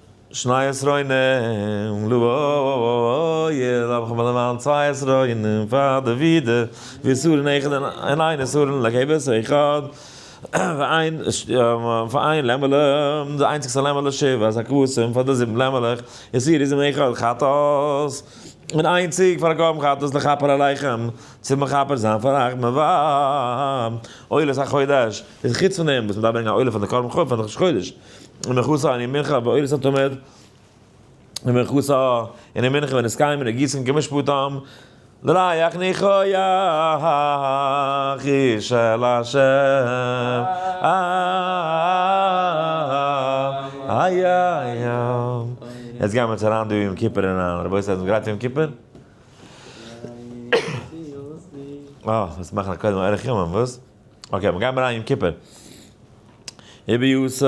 שני עשרונים לויער האב איך מיר דערמאנט צוויי עשרונים פאר די ווידע ואיסורין איחוד און איין איסורין לעכעבעס איחוד ואין ואין לעמעלע די איינציגסטע לעמעלע שבע אז הכבשים פאר די זיבן לעמעלעך איסור איז איחוד חטאת און איין ציג פאר א קרבן חטאת לכפר עליכם צו מכפר זיין פאר אייך מ ו עולת החודש איז חוץ פון דעם וואס מ'דארף ברענגען א עולה פאר די קרבן חטאת פאר די ראש חודש. ומכוסה אני מנחה באורות התמיד, ומכוסה אני מנחה ונזכרים מן הגיסין כמשפטם, לריח ניחוח היא של השם, יעצט גייען מיר צו אריין דא יום כיפור אין א, רבותי זענט איר גרייט פאר יום כיפור? אה, מ'מוז מאכן א קודם ארוך ימים, וואס? אקעי, מיר גייען אריין יום כיפור. איבער יו ס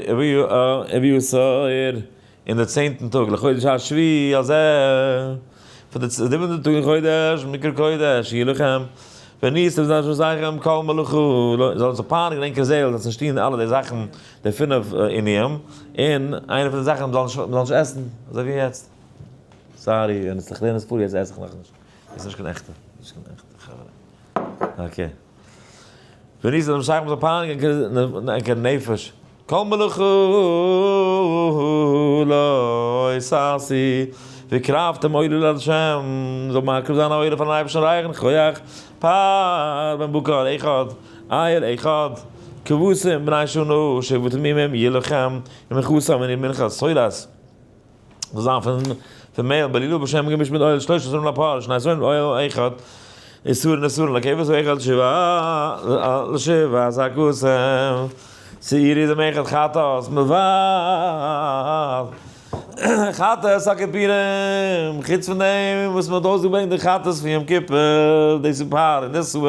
איבער יו ס אייר אין די צענטן טאג לחודש השביעי הזה פון די זיבענטע טאג אין חודש מקרא קודש יהי לכם וניסתם זיין שעשיכם כל מלאכה זאל אונז זיך פארהאנען אין ענקער זעהל זאל נישט טוהן אלע די זאכן די פינף עיניים אין איינע פון די זאכן מ'זאל נישט עסן אזוי ווי יעצט סארי ווען עס איז זיך לערנען עס פאר יעצט עס איך נאכנישט איז נישט קיין עכטע, נישט קיין עכטע חברה. אקעי. ווען איז דעם שייך מיט א פאנגע ענקער נפש? כל מלאכתו לא עשי, והקרבתם עולה לה', זאל מקריב זיין א עולה פארן אייבערשטן רייכן כח, פאר בן בקר אחד, אייער אחד, כבשים בני שנה שבעה תמימים יהיה לכם, ומכוסה מני מנחה סולת. זאל זיין פון פון מעל בלילה בשם געמישט מיט אויל שלושה עשרים לפאר שני עשרים אויל אחד איסורין איסורין לקיבוץ ואחד שבעה לשבעה עשר כוסם שעירי דמי אחד חטאת מבער חטאת הכפירים חוץ פון דעם וואס מען האט אויסגעברענגט די חטאת פון יום כיפור דאס איז פאר און דאס איז אסור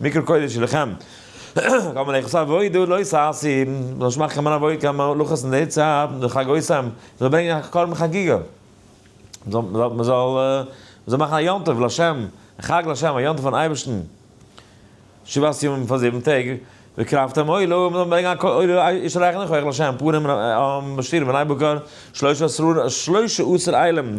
מקרא קודש שלכם, קאן מען אייך עס אוועידא לא ששי, מ'זאל נישט מאכן קיין מנא וואויקא מלאכות אין די צייט, די חג אויסעם, מ'זאל ברענגען א קרבן חגיגה, מ'זאל מ'זאל מ'זאל מאכן א יום טוב לשם, א חג לשם, א יום טוב פארן אייבערשטן, שבעת ימים פאר זיבן טעג, והקרבתם עולה, מ'זאל ברענגען א קול עולה, איש ארעכין לכח לשם, פורים, שביעי בני בקר, שלושה עשר עילים,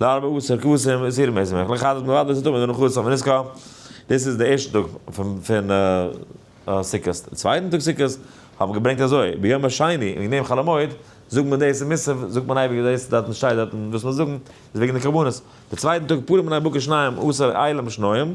לארבע עשר כבשים איז איהר מער שמח לחדש מלבד דאס טאג מיט די נחת פון יזכור, דאס איז די ערשטע טאג פון סוכות, די צווייטן טאג סוכות האט מען געברענגט אזוי, ביום השני וועגן דעם חול המועד זאגט מען דאס אין מוסף זאגט מען אייביג דאס דארטן שטייט דארטן וואס מ'זאל זאגן איז וועגן די קרבנות, די צווייטן טאג פורים בני בקר שניים עשר איילים שנויים.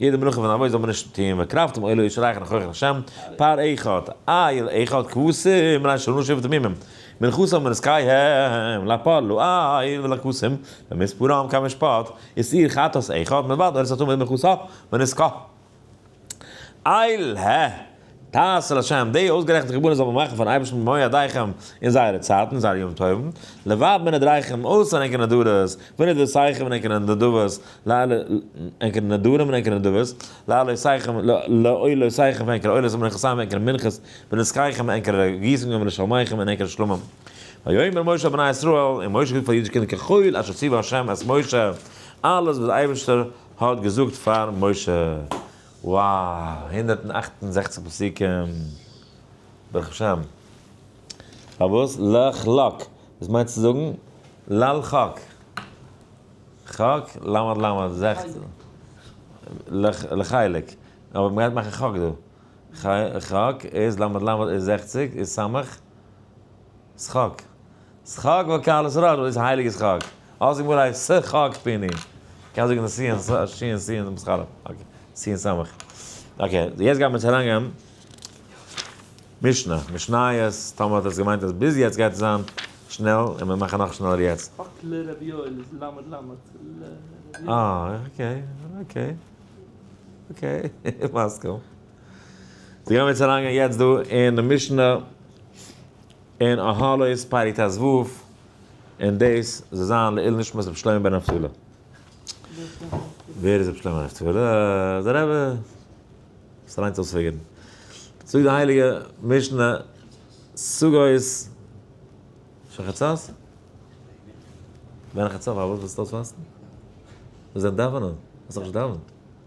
יעדע מנוחה פון אבות זאל מען נישט טוען ווען קרבתם עולה אויס שרייכן הויך אויף השם, פר ע אחד, איל אחד כבשים ריין שלא נשרפו תמימים, מנחת האמר איז קאי הם, לפר לא איל ולכבשים, ומספרם קאי משפט, איז איל חטאת אחד, מלבד ארץ התמיד מנחת ה, ונזקה. איל ה. תעשה לשם, די אויסגערעכנטע חורבנות זאל מען מאכן פארן אייבערשטן במו ידיכם אין זייערע צייטן און זייערע ימים טובים, לבד מן הדרכים, אויסער ענקערע נדבות, ונד וסייכם און ענקערע נדבות, ענקערע נדרים און ענקערע נדבות, לעלותיכם, לעולותיכם פון ענקערע עולות ומנחתכם פון ענקערע מנחות, ונזקיכם פון ענקערע גיסונגען ולשלמיכם פון ענקערע שלומים. ויאמר משה אל בני ישראל, און משה זאגט פאר די אידישע קינדער ככל אשר ציווה ה' את משה, אלעס וואס דער אייבערשטער האט געזאגט פאר משה. וואו! הונדערט און אַכט און זעכציק פסוקים! ברוך השם! פארוואס לך לק? דאס מיינט צו זאגן לל' חק. חק, למד למד, זעכצן. לחלק. אבער מ'גייט מאכן חק דא. חק איז למד למד איז זעכציק איז סמך. שחק. שחק וואקאל איז רר איז הייליגע שחק. אלזא גמרא הייסט ס ח ק פיני. קענסט זאגן ס ש ש ש ס ש ס ח ר אקעי ס ש ס אקעי יעצט גיימיר צו אריינגיין משנה משניות טאמער האט עס געמיינט אז ביז יעצט גייט עס זיין שנעל און מיר מאכן נאך שנעלער יעצט. חק ל רבי יואל איז ל ל ל ל ר ר. אה אקעי אקעי אקעי מסכים. זיי גייען מיר יעצט אריינגיין יעצט דא אין די משנה אין אהלות פרק טז ו און דאס זאל זיין לעיל נשמת רבי שלמה בן נפתלי. ווער איז רבי שלמה בן נפתלי? דער רבי וואס ליינט אויס פיגורן. זאגט די הייליגע משנה סוגאות של חצות? ווען חצות פארוואס ווילסטו אויספאסטן? מיר זענען דאווענען, מ'האט דאך נישט דאווענט.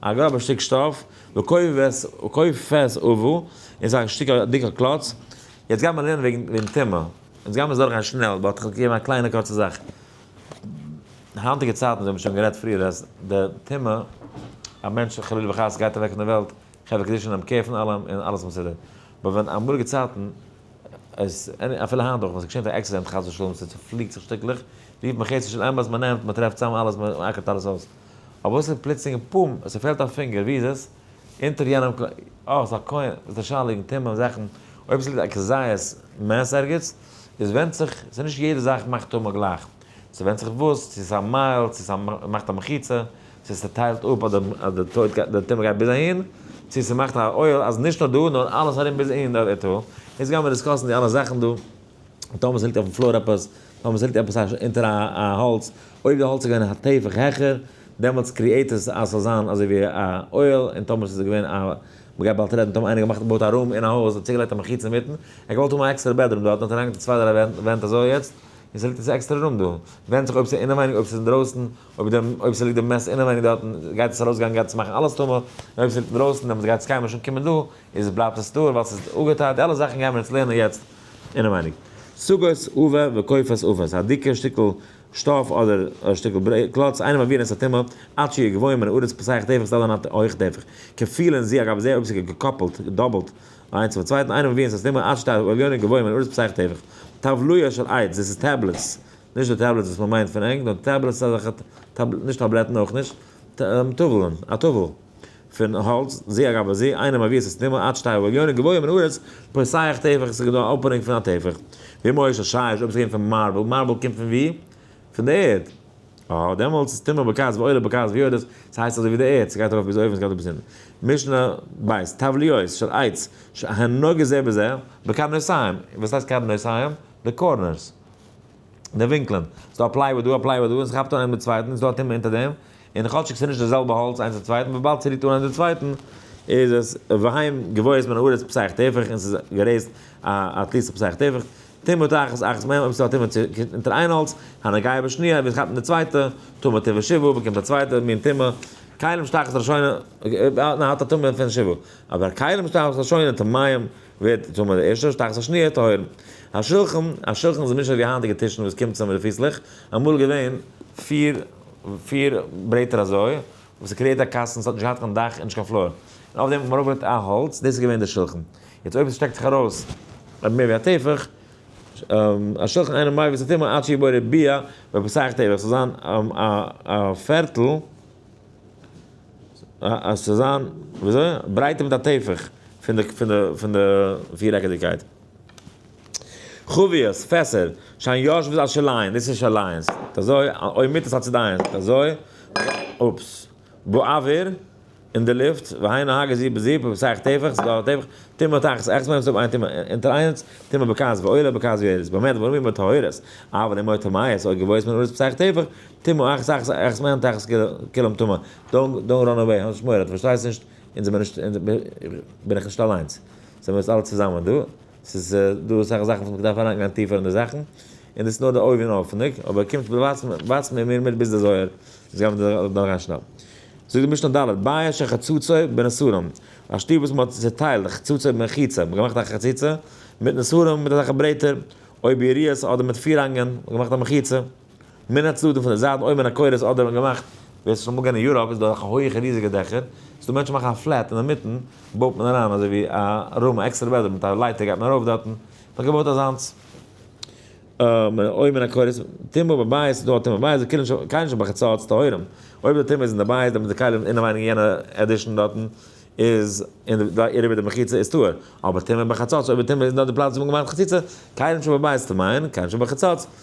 א גראבע שטיק שטאף, וקופת עוו. און ס'איז א שטיק א דיקע קלאץ. יעצט גיימער לערנען וועגן טומאה. אונז גיימער עס דורכגיין שנעל, ווייל כ'האב געגעבן א קליינע קורצע זאך. די היינטיגע צייטן, אונז האבן שוין גערעדט פריער אז די טומאה, א מענטש חלילה וחס גייט אוועק פון די וועלט, חברה קדישא נעמען קער פון אלעם און אלעס מסודר. באט ווען אמאליגע צייטן, איז אפילו היינט אויך ווען ס'געשענט א עקסידענט חס ושלום, ס'צופליקט זיך שטיקלעך, רופט מען חסד של אמת, מ'נעמט, מ'טרעפט צאם אלעס, מ'אקערט אלעס אויס. אבער וואס איז פלוצלינג פאם? עס פעלט א פינגער, ווי איז עס? אונטער יענעם קלא. אה, ס'איז א קוין, וואס איז די שאלה וועגן טעמים און זאכן? אויב עס ליגט א כזית מעש ערגעץ, עס ווענדט זיך, ס'איז נישט יעדע זאך מאכט טומאה גלייך. ס'ווענדט זיך וואס, צו עס איז א מייל, צו עס מאכט א מחיצה, צו ס'טיילט אפ אז די טויט גייט, די טומאה גייט ביז אהין, צו ס'מאכט א עול אז נישט נאר דא, נאר אלעס ארום ביז אין די אוטו. אונז גיימיר דיסקאסן די אלע זאכן דא, און טאמער ס'ליגט אויפן פלאר עפעס, נאר מען זעט עפעס אונטער א האלץ, אויב די האלץ איז געווען א טפח העכער, דעמאלטס קריעט עס אז ס'זאל זיין אזוי ווי א אוהל, און טאמער ס'איז געווען א, מען גייט באלד רעדן, טאמער איינער האט געמאכט געבויט א רום אין א הויז, האט צוגעלייגט א מחיצה אינמיטן, ער האט געוואלט האבן א עקסטערע בעדרום דארט, האט ער אריינגעטון צוויי דריי ווענט אזוי יעצט, און ס'ליגט יעצט א עקסטערע רום דא, ווענדט זיך אויב ס'איז אינעווייניג אויב ס'איז אינדרויסן, אויב ס'ליגט די מעסס אינעווייניג דארטן, גייט עס ארויסגיין גייט עס מאכן אלעס טמא, און אויב ס'ליגט אינדרויסן דעמאלטס גייט עס קיינמאל נישט אנקומען דא, איז בלייבט עס טהור ווייל ס'איז אפגעטייט, די אלע זאכן גייען מיר יעצט לערנען יעצט. אינעווייניג סוגות אווער וקופות אווער, א דיקע שטיקל שטאף אדער שטיקל קלאץ אינעם אוויר נעשה טומאה, עד שיהיה גבוה מן הארץ פסח טפח איז אלע נאנט הויכע טפח, כפיל און זי אגב איז זייער אויבסעגע געקאפלט, געדאבלט, איינס צום צווייטן אינעם אוויר נעשה טומאה, עד שתהיה עליונה גבוה מן הארץ פסח טפח, טבליה של עץ, דאס איז טעבלעטס, נישט די טעבלעטס וואס מען מיינט פון ענק, נאר טעבלעטס אזעלכע, נישט טאבלעטן אויך נישט, טבל'ן, א טבל. פון האלץ, זי ע רבה זי, איינער מעביר עשה סתימה, עד שתי הלוויונים גבוהים מן הארץ, פותח טפח, ס'איז געווען א אפענונג פון א טפח. ואם הוא איש השש, אויב ס'קומט פון מארבל, מארבל קומט פון וואו? פון די ערד. אה, דעמאלטס איז סתימה בקעת ועולה בקעת ויורדת, ס'הייסט אזוי ווי די ערד, ס'גייט ארויף ביז אויבן ס'גייט אראפ ביז אונטן. משנה ב', טבליות של עץ, שהנוגע זה בזה, בקרנותיים, וואס הייסט קרנותיים? די קארנערס. די ווינקלען, ס'איז דא א פלייוואד דא, א פלייוואד דא, און ס'כאפט אן איינעם די צווייטן, איז דא א טומאה אונטער דעם, און כאטשיג ס'איז נישט די זעלבע האלץ איינס צום צווייטן, וויבאלד ס'רירט אן איינס די צווייטן, איז עס והאם גבוהות מן הארץ פסח טפח, און ס'איז גערעיזט א א תליסה פסח טפח, טומאת אחת אחת מהם, אויב ס'איז דא א טומאה צו קומט אונטער איין האלץ, הנוגע בשניה, ווען ס'כאפט אן די צווייטע, טומאת תבוא שבעה, באקומט א צווייטע מין טומאה, כלים שתחת ראשונה, אויב איינער האט א טומאה פון שבעה, אבער כלים שתחת ראשונה טמאים. ווערט טמא די ערשטע שטאכס א שניה טהור. א שולחן, א שולחן איז נישט אזוי ווי היינטיגע טישן וואס קומט צאם די פיסלעך, אמאל איז געווען פיר פיר ברעטער אזוי, וואס איז קריעט א קאסטן, עס האט נישט געהאט קיין דאך און נישט קיין פלאר, און אויף דעם האט מען ארויפגעלייגט א האלץ, דאס איז געווען די שולחן. יעצט אויב עס שטעקט זיך ארויס מער ווי א טפח, א שולחן אינו מביא את הטומאה עד שיבוא רביע, בפסח טבח, עס זאל זיין א פערטל אז צו זיין, וויאזוי? ברייטער מיט א טפח פון די פון די פון די פירעקעדיגקייט. חביות, פעסער, שאין יושבות על שלהן, דאס איז נישט אליינס, זיי אזוי, אוי מיתות על צדהן, זיי אזוי, אופס, באוויר, אין די לופט, והיינו הגה זיפ בזיפ, אויב ס'הייכט טפח, ס'איז דא א טפח, טומאה תחת עכז מיינט עס האבן איין טומאה אונטער איינס, טומאה בכעס ועולה, בכעס וירס, באמת ווארום אימער טהורות, אבל אימער טמאות, אויב געוואויר איז מען אונס פסח טפח, טומאה אכ ז אכ ז אכ ז מענט אכ ז כולם טומאה, דאונט ראן אוועי, האב נישט מורא, דו פארשטייסט נישט, אונז זעמיר נישט, בין איך נישט אליינס, זעמיר אונז אלע צוזאמען דא, ס'איז דא אסאך זאכן וואס מען דארף אריינגיין טיפער אין די זאכן, און דאס איז נאר די אויבנאויפנדיג, אבער קומט ווייזט מיר מיר מיט ביז די זוהר, אונז גיימיר דא אריין שנעל. זאגט די משנה ד' ביה ש חצוצרי בנסרים, א שטוב וואס מ'האט צוטיילט חצוצרי במחיצה, מ'האט געמאכט א חציצה, מיט נסרים מיט אזעלכע ברעטער, אויב יריעות אדער מיט פירהאנגען, מ'האט געמאכט א מחיצה. מן הצדדים פון די זייטן אויב אין א קורת אדער האבן געמאכט ווער ס'איז שוין אמאל געווען אין יוראפ איז דא אזעלכע הויעכע ריזיגע דעכער ס'איז דא מענטשן מאכן א פלעט אינמיטן בויט מען אריין אזוי ווי א רום א עקסטערע בעדרום מיט א לייטער גייט מען ארויף דארטן כ'האב געבויט אזאנס אויבן אין א קורת טומאה בבית ס'איז דא א טומאה בבית זיי קענען נישט קיינער נישט בחצות טהורים אויב די טומאה איז אין די בית דעמאלט די כלים אינעווייניג אין יענע עדישן דארטן איז אין די אריבער די מחיצה איז טהור אבער טומאה בחצות אויב די טומאה איז נאר די פלאץ ווי מ'האט געמאכט די חציצה כלים שבבית ס'טמא'ען כלים שבחצות.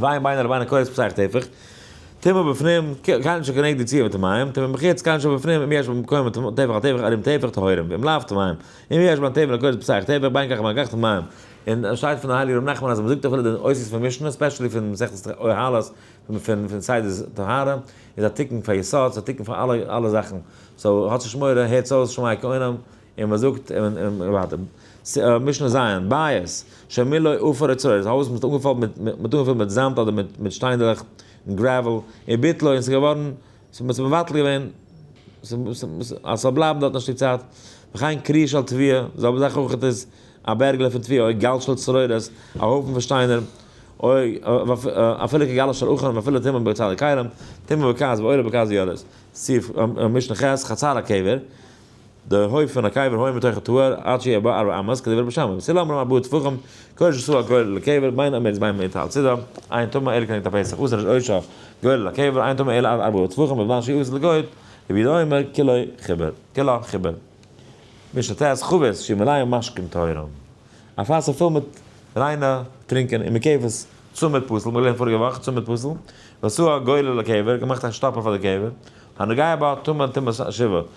ואין ביינער לביינער קורת פסח טפח, טמא בפנים קאן ש כנגד יציאה מטמאים, טמא מחוץ קאן ש בפנים אם יש במקום הטמא טפח על טפח ערים טפח טהורים ואם לאו טמאים, אם יש בין טבע לקורת פסח טפח בין כך ובין כך טמאים, און עס שטייט פון הייליגן ר' נחמן אז מען זאגט אפילו די אותיות פון משנה ספעשעלי פון מסכת אוהלות פון פון סדר טהרה איז א תיקון פאר יסוד ס'איז א תיקון פאר אלע אלע זאכן, סאו האטס נישט מורא הערטס אויס שמעי כעונם. און מען זאגט ווייטער, משנה ז', בית שמילאו עפר אוצרות, דאס הויז וואס מען האט אנגעפולט מיט זאמד אדער מיט שטיינדלעך, גרעוועל, און ביטלו, און עס איז געווארן, מען האט עס מבטל געווען, אז עס זאל בלייבן דארט א שטיק צייט, וכן קריה של תביה, די זעלבע זאך אויך איז א בערגעלע פון תביה, אוי גל של צרורות, א הויפן פון שטיינער, אוי אפילו כגלו של אחן, ואפילו טמא בבצע לכרם, טמא בכעס, ועולה בכעס וירז, סי' משנה ח', חצר הקבר, די הויף פון הקבר הוי מתוך הטהור עד שיהיה בו ארבע אמות כדי ווערט בשמים צל אמרם ארבעה טפחים קודש עשו הגורל לקבר בין אמער איז ביים מיטה על צידה עין טמא אלה כנגד הפסח אסר איז עושו גורל לקבר עין טמא אלה עד ארבעה טפחים ובזמן שיהיו אסר לגויל רבי יהודה אומר כלא חיבר כלא חיבר משנה ט חבית שיהיו מלאים משקים טהורים א פאסל פול מיט ריינע טרינקען און מקוה'ס צומת פסל מיר האבן געלערנט פאריגע וואך צומת פסל ועשו הגורל לקבר געמאכט א שטאפל פאר די קבר הנוגע בה טמא טמאת השבעה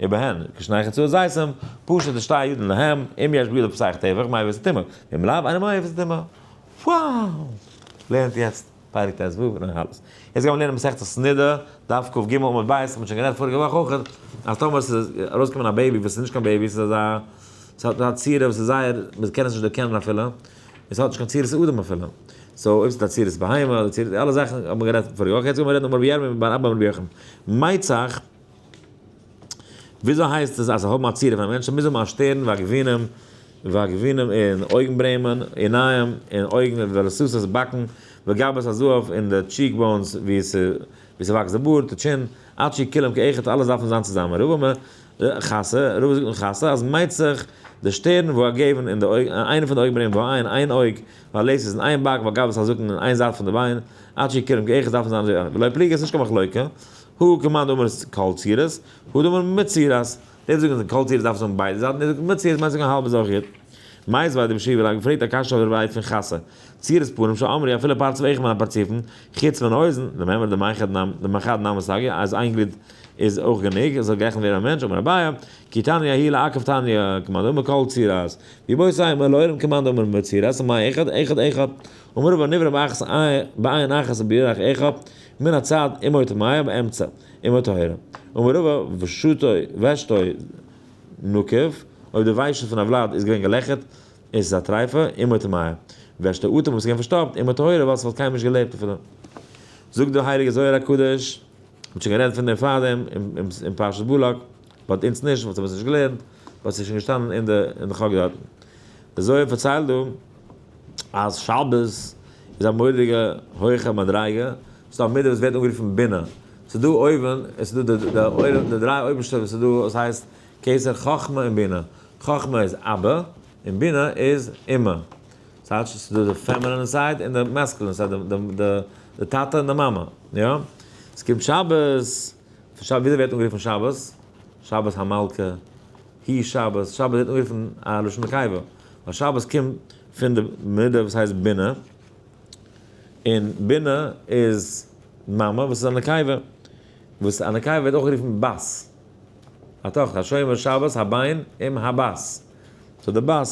איבעהן, כשנייכער צו זייסם, פשוט איז שטייער ידען להם, אם יש בידו פסח טבח, מאי ואיזה טמא, ואם לאו, אינו מאי ואיזה טמא. וואו! לערנט יעצט פרק ט ו אין הנהלת. יעצט גיימיר לערנען מסכת סנדה, דף קג עמוד ב', האט מען שוין גערעדט פאריגע וואך אויך, אז טאמער עס איז ארויסגעקומען א בעיבי וואס איז נישט קיין בעיבי, עס איז אזא, עס האט א צורה וואס איז זייער, מען קען עס נישט דערקענען אפילו, און עס האט נישט קיין צורת אדם אפילו. סאו אויב עס איז א צורת בהמה, אדער צורת, אלע זאכן האט מען גערעדט פאריגע וואך, יעצט גיימיר רעדן אויף רבי ירמי' בן אבא בן רבי יוחנן. מייצעך. וויאזוי הייסט עס אז זיי האבן א צירוף פון מענטשן? מוז האבן א שטערן ועגבנין ועגבנין און אויגנברעמען, עיניים און אויגן ולסוסת באקן וגבות הזהב און די טשיק באונס ווי ס'וואקסט די בארד, די טשין, עד שיהי' כולם כאחד אלעס דארף מען זיין צוזאמען רוב אמר ח ס, רוב זאגט מען ח ס אז מ'מיינט זיך די שטערן ועגבנין און די אויגן, איינע פון די אויגנברעמען ועין, איין אויג, ולסוס און איין באק וגבות הזקן און איין זייט פון די ביין, עד שיהי' כולם כאחד דארף מען זיין, ולא פליגי ס'נישט קיין מחלוקה, הוא כמאן דאמר כל צירות, הוא דאמר מצירות, די וואס זאגן כל צירות דארפסטו האבן ביידע זייטן, די וואס זאגן מצירות מיינסטו א האלבע זאך יוט. מאיז ווייל די משיב רייד פרעגט א קשיא אויף דער ווייט פון חת ס, צירות פנים שאמר י אפילו פרצוף איך מיין א פרצופן, חוץ מיין אויזן, דעם אמר דעם אחד נמ, דעם אחד נמי סגי, אז איין גליד איז אויך גענוג, עס זאל גערעכנט ווערן א מענטש, אמר אביי, כי תניא הי' לעקב תניא, כמאן דאמר כל צירות, ווי בו ס אמר לאורים כמאן דאמר מצירות, מאי אחד, אחד אחד, ומרובא נברא באחת בעין אחת ובירך אחד, מן הצד אימו טמאה באמצע אימו טהורה ומרובה ושתו ושתו נוקב, אויב די וויישן פון א וולד איז געווען געלעכערט איז עס א טרייפע, אימו טמאה, ושתו אטעם וואס איז געווען פארשטאפט, אימו טהורה ווייל עס וואלט קיינמאל נישט געלעבט אפילו. זאגט דער הייליגער זוהר הקדוש, מען האט שוין גערעדט פון דעם פארדעם אין פרשת בלק, באט אונז נישט, ווייל אונז האבן עס נישט געלערנט, באט עס איז שוין געשטאנען אין די חק דארטן. דער זוהר פארציילט דא. אז שבת איז א מורא'דיגע הויכע מדריגה, ס'איז דא א מידה וואס ווערט אנגערופן בינה, ס'איז דא אויבן, עס איז דא די עולם, די דריי אויבערשטע וואס איז דא וואס הייסט קיסר חכמה און בינה, חכמה איז אבא, און בינה איז אמא, ס'הייטש ס'איז דא די פעמענען סייד און די מעסקלען סייד, די טאטע און די מאמע, יא? ס'קומט שבת. וויאזוי ווערט אנגערופן שבת? שבת המלכה, היא שבת, שבת ווערט אנגערופן א לשון נקיבה, ווייל שבת קומט פון די מידה וואס הייסט בינה, און בינה איז מאמע וואס איז א נקיבה, וואס א נקיבה ווערט אויך גערופן בת, א טאכטער, השומר שבת הביין עם הבת, סאו די בת,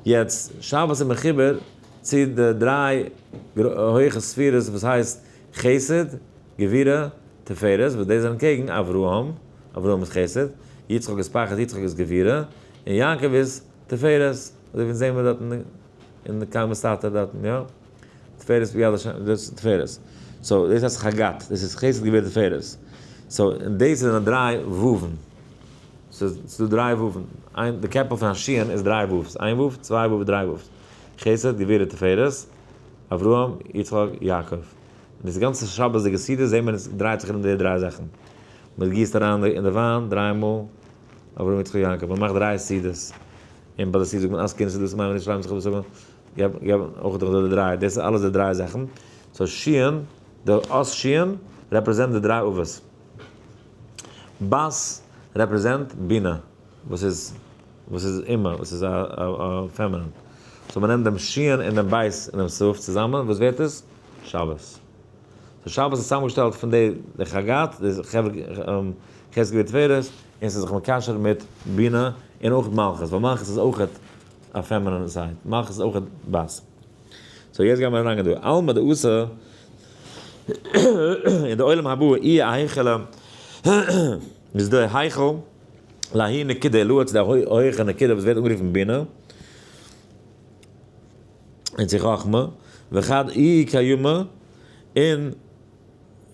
יעצט שבת איז מחובר צו די דריי הויכע ספירות וואס הייסט. חסד, גבורה, תפארת, וואס די זענען קעגן אברהם, אברהם איז חסד, יצחק איז פחד, יצחק איז גבורה, און יעקב איז תפארת, אזוי ווי אונז זעהן מיר דארט אין קר י מסתתר דארטן, יא, תפארת ביד ה', דאס איז תפארת, סאו דאס הייסט חגת, דאס איז חסד גבורה תפארת, סאו און דאס זענען דריי וואו'ן, סאיז דא דריי וואו'ן, איין די קעפל פון השי ת איז דריי וואו'ס, איין וואו', צוויי וואו', דריי וואו'ס, חסד, גבורה, תפארת. אברהם, יצחק, יעקב. און דאס גאנצע שבת'דיגע סדר זעהט מען עס דרייט זיך ארום די דריי זאכן. מען גיסט אריין אין די וויין דריי מאל אברהם יצחק יעקב, מען מאכט דריי סעודות, און ביי די סעודה זאגט מען אז קינדער סעודות מיינען נישט שרייבן זיך אפ זאגן געב געב אויך דורך די דריי, דאס איז אלעס די דריי זאכן, סאו שיען, די אות שיען רעפרעזענט די דריי אבות, בת רעפרעזענט בינה וואס איז וואס איז אימא? וואס איז א פעמינין? סאו מ'נעמט דעם שיען און דעם בית און דעם סוף צוזאמען, וואס ווערט עס? שבת. סאו שבת איז צוזאמגעשטעלט פון די די חגת, די ח' סגולי תפארת, און ס'איז זיך מקשר מיט בינה און אויך מלכות, ווייל מלכות איז אויך א פעמינין זייט, מלכות איז אויך בת. סאו יעצט גייען מיר אריינגיין דא. עלמא דאיתא, אין די עולם הבא אי א היכלא, איז דער היכל, להאי נקודא עלאה צו די הויעכע נקודה וואס ווערט אנגערופן בינה און צו חכמה וכד אי קיימא און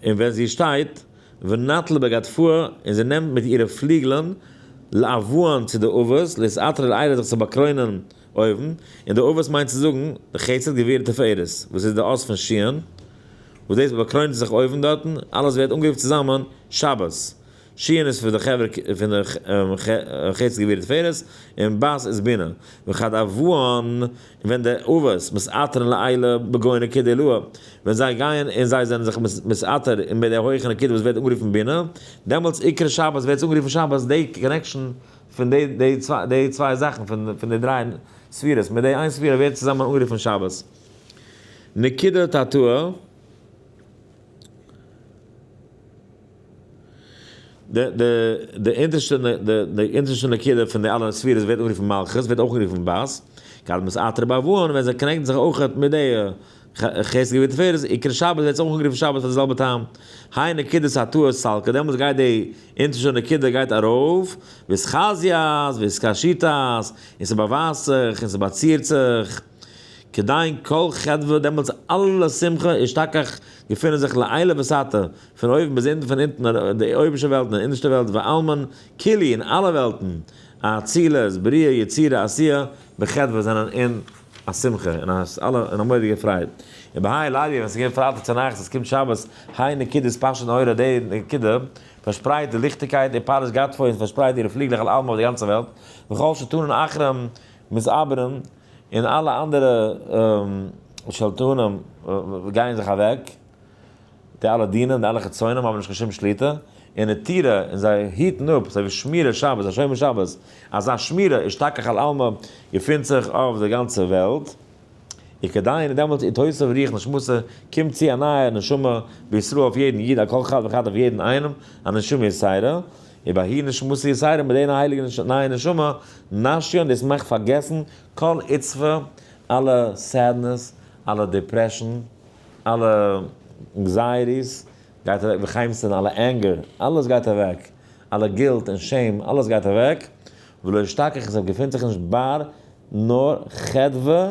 און ווען זי שטייט ונטלה בגדפוה און זי נעמט מיט אירע פליגלען לאבאן צו די אבות להתעטר אל עילה זיך צו באקרוינען אויבן און די אבות מיינט צו זאגן חסד גבורה תפארת וואס איז די אות פון שיען וואס דאס באקרוינט זיך אויבן דארטן אלעס ווערט אנגערופט צוזאמען שבת שיען איז פון די חברה פון די חסד גבורה תפארת, און בס איז בינה, וכד אבוהן, און ווען די אבות מסתתרין לעילה בגובה נקודי עילאה, ווען זיי גייען און זיי זענען זיך מסתתר אין די הויכע נקודה וואס ווערט אנגערופן בינה, דעמאלטס עיקר שבת ווערט עס אנגערופן שבת, די קאנעקשאן פון די צוויי זאכן פון די דריי ספירות מיט די איין ספירה ווערט צוזאמען אנגערופן שבת. נקודה תתאה. די אונטערשטע נקודה פון די אלע ספירות ווערט אנגערופן מלכות, ווערט אויך אנגערופן בת, קדמת אתרא באבון, ווען זיי קאנעקטן זיך אויך מיט די חסד גבורה תפארת, עיקר שבת ווערט אויך אנגערופן שבת פאר די זעלבע טעם, היי נקודת התוה סלקא, דעמאלטס גייט די אונטערשטע נקודה גייט ארויף, ווי עס חזי'ט, ווי עס קאשי'ט, און ס'באווייזט זיך, און ס'באצירט זיך. כדיין כל חדוה דעמאלטס אלע שמחה און שתכח געפונען זיך לעילה וסעתה, פון אויבן ביז אונטן פון אונטן און די אויבערשטע וועלטן און אינערשטע וועלט ועלמין כולי און אלע וועלטן האצילות בריאה יצירה עשיה בחדוה זענען אין א שמחה און אלע אין א מורא'דיגע פרייד און בהאי לידיה ווען עס איז געווען פרייטאג צונאכטס עס קומט שבת האי נקודת פשט און אורה די נקודה פארשפרייט די ליכטיגקייט און פרשת גדפון פארשפרייט אירע פליגלעך על עלמה אויף די גאנצע וועלט וכל שטונן אחרים מתעברים און אלע אנדערע שלטונים גייען זיך אוועק, די אלע דינים, די אלע חיצונים האבן נישט קיין שום שליטה און נטירה, און זיי היטן אפ, אזוי ווי שמירת שבת, א שומר שבת, אזא שמירה השתכח על עלמא געפינט זיך אויף די גאנצע וועלט, און כדאי און דעמאלטס איז תוסף ריח נשמתו, קומט צו א נייע נשמה בישראל אויף יעדן איד, על כל חד וחד אויף יעדן איינעם, א נשמה ישרא. און ביי הי נשמתי יסיירא מיט איין הייליגע נייע נשמה נשי און דאס מאכט פארגעסן כל עצבה, אלע סעדנעס, אלע דיפרעשאן, אלע ענקזייעטיס גייט אוועק וחיימסטען אלע ענגער, אלעס גייט אוועק, אלע גילט און שעם, אלעס גייט אוועק, ולא אשתכח עס געפינט זיך נישט בר נאר חדוה.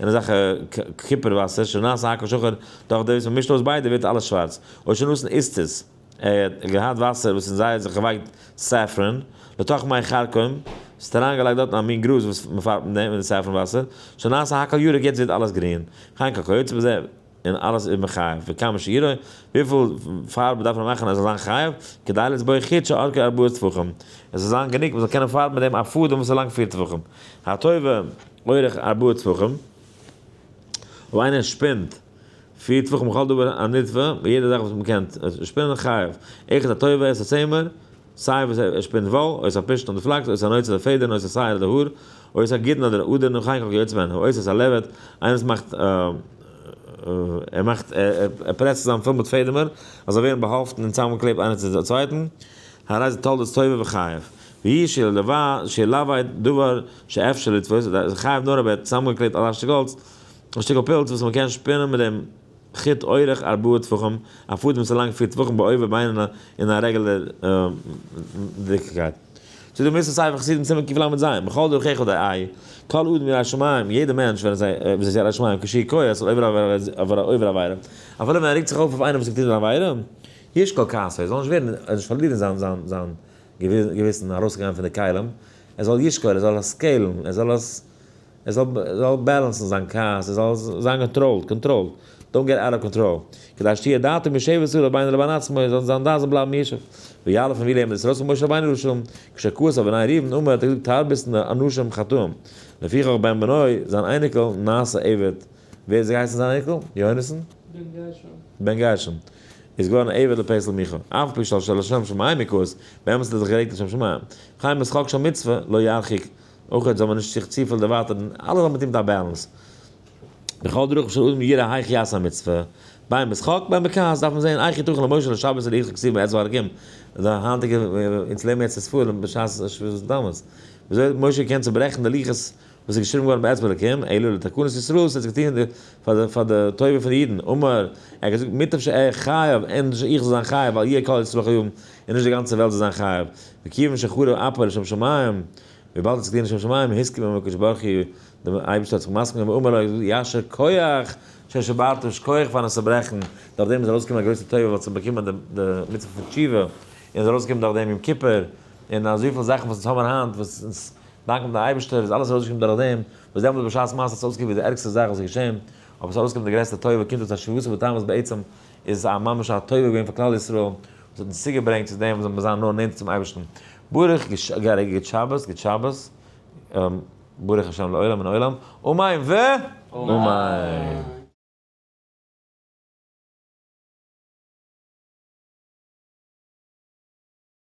און אזעלכע קופער וואסער שנעשה הכל שחור, דורך דאס מ'מישט אויס ביידע ווערט אלעס שווארץ, אויב שוין נסן איז טז, ער האט געהאט וואסער וואס אין זיי האט זיך געווייקט סעפרען, לתוך מי חרקום, ס'האט אריינגעלייגט דארטן א מין גראז וואס מ'פארבט מיט דעם, מיט די סעפרען וואסער, שנעשה הכל ירוק יעצט ווערט אלעס גרין, חנקה כיוצא בזה. און אלעס איז מען חייב וכמה שיראה, וויפיל פארב דארף מען מאכן אז עס זאל זיין חייב, כדי לסבוי חיד שארכה ארבעה טפחים, עס זאל זיין גענוג מען זאל קענען פארבן מיט דעם א פאדעם וואס איז לאנג פיר טפחים, הטובה אורך ארבעה טפחים, אויב איינער שפינט פיר טפחים כל דבר הנדפר, יעדע זאך וואס מען קען שפינען חייב, איכות הטובה עשר צעמער, סיי וואס ער שפינט וואו, אויס א פשתן אדער פלאקס, אויס א נויץ אדער פעדערן, אויס א שעיר אדער האר, אויס א גיטין אדער א אדערן און חייקל כיוצא מן הא, אויס אויס א לעבעד, איינער וואס מאכט ער מאכט ער פרעסט צוזאם פיל מיט פעדעמער אז זיי ווערן באהאפטן און צאמגעקלעבט איינער צו צווייטן, הרי זה תולדות טויבער וחייב, והיא שהיא לאווי דבר שאפשר לתפוס, חייב נאר אז מען האט צוזאמגעקלעבט א שטיקל האלץ, א שטיקל פילץ וואס מען קען שפינען מיט דעם. חיט אורך ארבעה טפחים, א פאדעם וואס איז לאנג פיר טפחים באובער ביינער אין א רעגולער דיקקייט. צו דו מוזט עס ספר חסידים סימן קלז ז, בכל דרכיך אודאי איי, כל אדם ירא שמים, יעדער מענטש ווער עס איז ירא שמים קשיא קוה אצל עובר עבירה, אפילו ווען ער רעגט זיך אויף אויף איינעם וואס האט געטון אן עבירה, ישקול כעסו, ער זאל נישט ווערן, ער זאל נישט פארלירן זיין זיין זיין געוויסן, ארויסצוגיין פון די כלים, ער זאל ישקול, ער זאל עס סקעילן, ער זאל עס. ער זאל זאל בעלענסן זיין כעס, ער זאל זיין געטראלט, קאנטראלט, דאונט געט אוט אוו קאנטראל, כדי שתהיה דעתו מישבת סביב רבינו לבין עצמו, זאל זיין דעת זאל בלייבן מישב, ויעל אויף אים ווי לעם דאס רצון משה רבינו רשום, כשכעס אויף בני ראובן אמר, האט ער געזאגט תרבות נ אנשים חטאים, לפיכך בן בנו, זיין אייניקל, נעשה עבד, ווער איז געהייסן זיין אייניקל? יהונתן? בן גרשון. בן גרשון, איז געווארן א עבד לפסל מיכה, אף על פי שלשה לשם שמים מקואות, באמת האט ער זיך גערעגט לשם שמים, חיים יצחק שום מצוה לא ירחיק, אויך זאל מען נישט זיך צופיל דערווייטערן, אלעס האט מיט אים מיט א בעלענס. בכל דרכים של אדם יראה היכי יעשה המצוה, ביים משחק ביים בכעס דארף מען זען היכי תוכן למשה לשבת און היכי כתיב מאת זוהר ג, די היינטיגע אונז לערנען יעצט אספו ר בשעת שביתת התענית, וויאזוי האט משה געקענט צוברעכן די לוחות וואס איז געשריבן געווארן באצבע אלקים, אלא לתקנת ישראל, ס'האט זיך געטון פאר די טובה פון די אידן, אמר, ער האט געזאגט מוטב שאהיה חייב, ענדערש איך זאל זיין חייב, אל יהיה כל ישראל חיובים. און נישט די גאנצע וועלט זאל זיין חייב, וכיוון שחרב אפו לשם שמים, וויבאלד עס איז געווען לשם שמים, הסכים עמו הקדוש ברוך הוא, דער אייבערשטער האט זיך מסכים געווען ואמר לו, יישר כח ששברתו, שקויעך פארן עס צוברעכן, דורך דעם איז ארויסגעקומען א גרויסע טובה, ווייל עס האט באקומען די מצוה פון תשובה, און עס איז ארויסגעקומען דורך דעם יום כיפור, און אזויפיל זאכן וואס אונז האמיר היינט, וואס אונז דאנקען דעם אייבערשטער, איז אלעס ארויסגעקומען דורך דעם, וואס דעמאלס בשעת מעשה האט עס אויסגעקוקט ווי די ערגסטע זאך וואס איז געשען, אבער עס איז ארויסגעקומען די גרעסטע טובה, קומט אויס אז שביעות הרצון איז בעצם איז א ממש א טובה געווען פאר כלל ישראל וואס האט אונז צוגעברענגט צו דעם וואס זאל מען זיין נאר נענטער צום אייבערשטן. ברוך געהארענט גוט שבת גוט שבת ברוך השם לעולם און עולם אמן ואמן.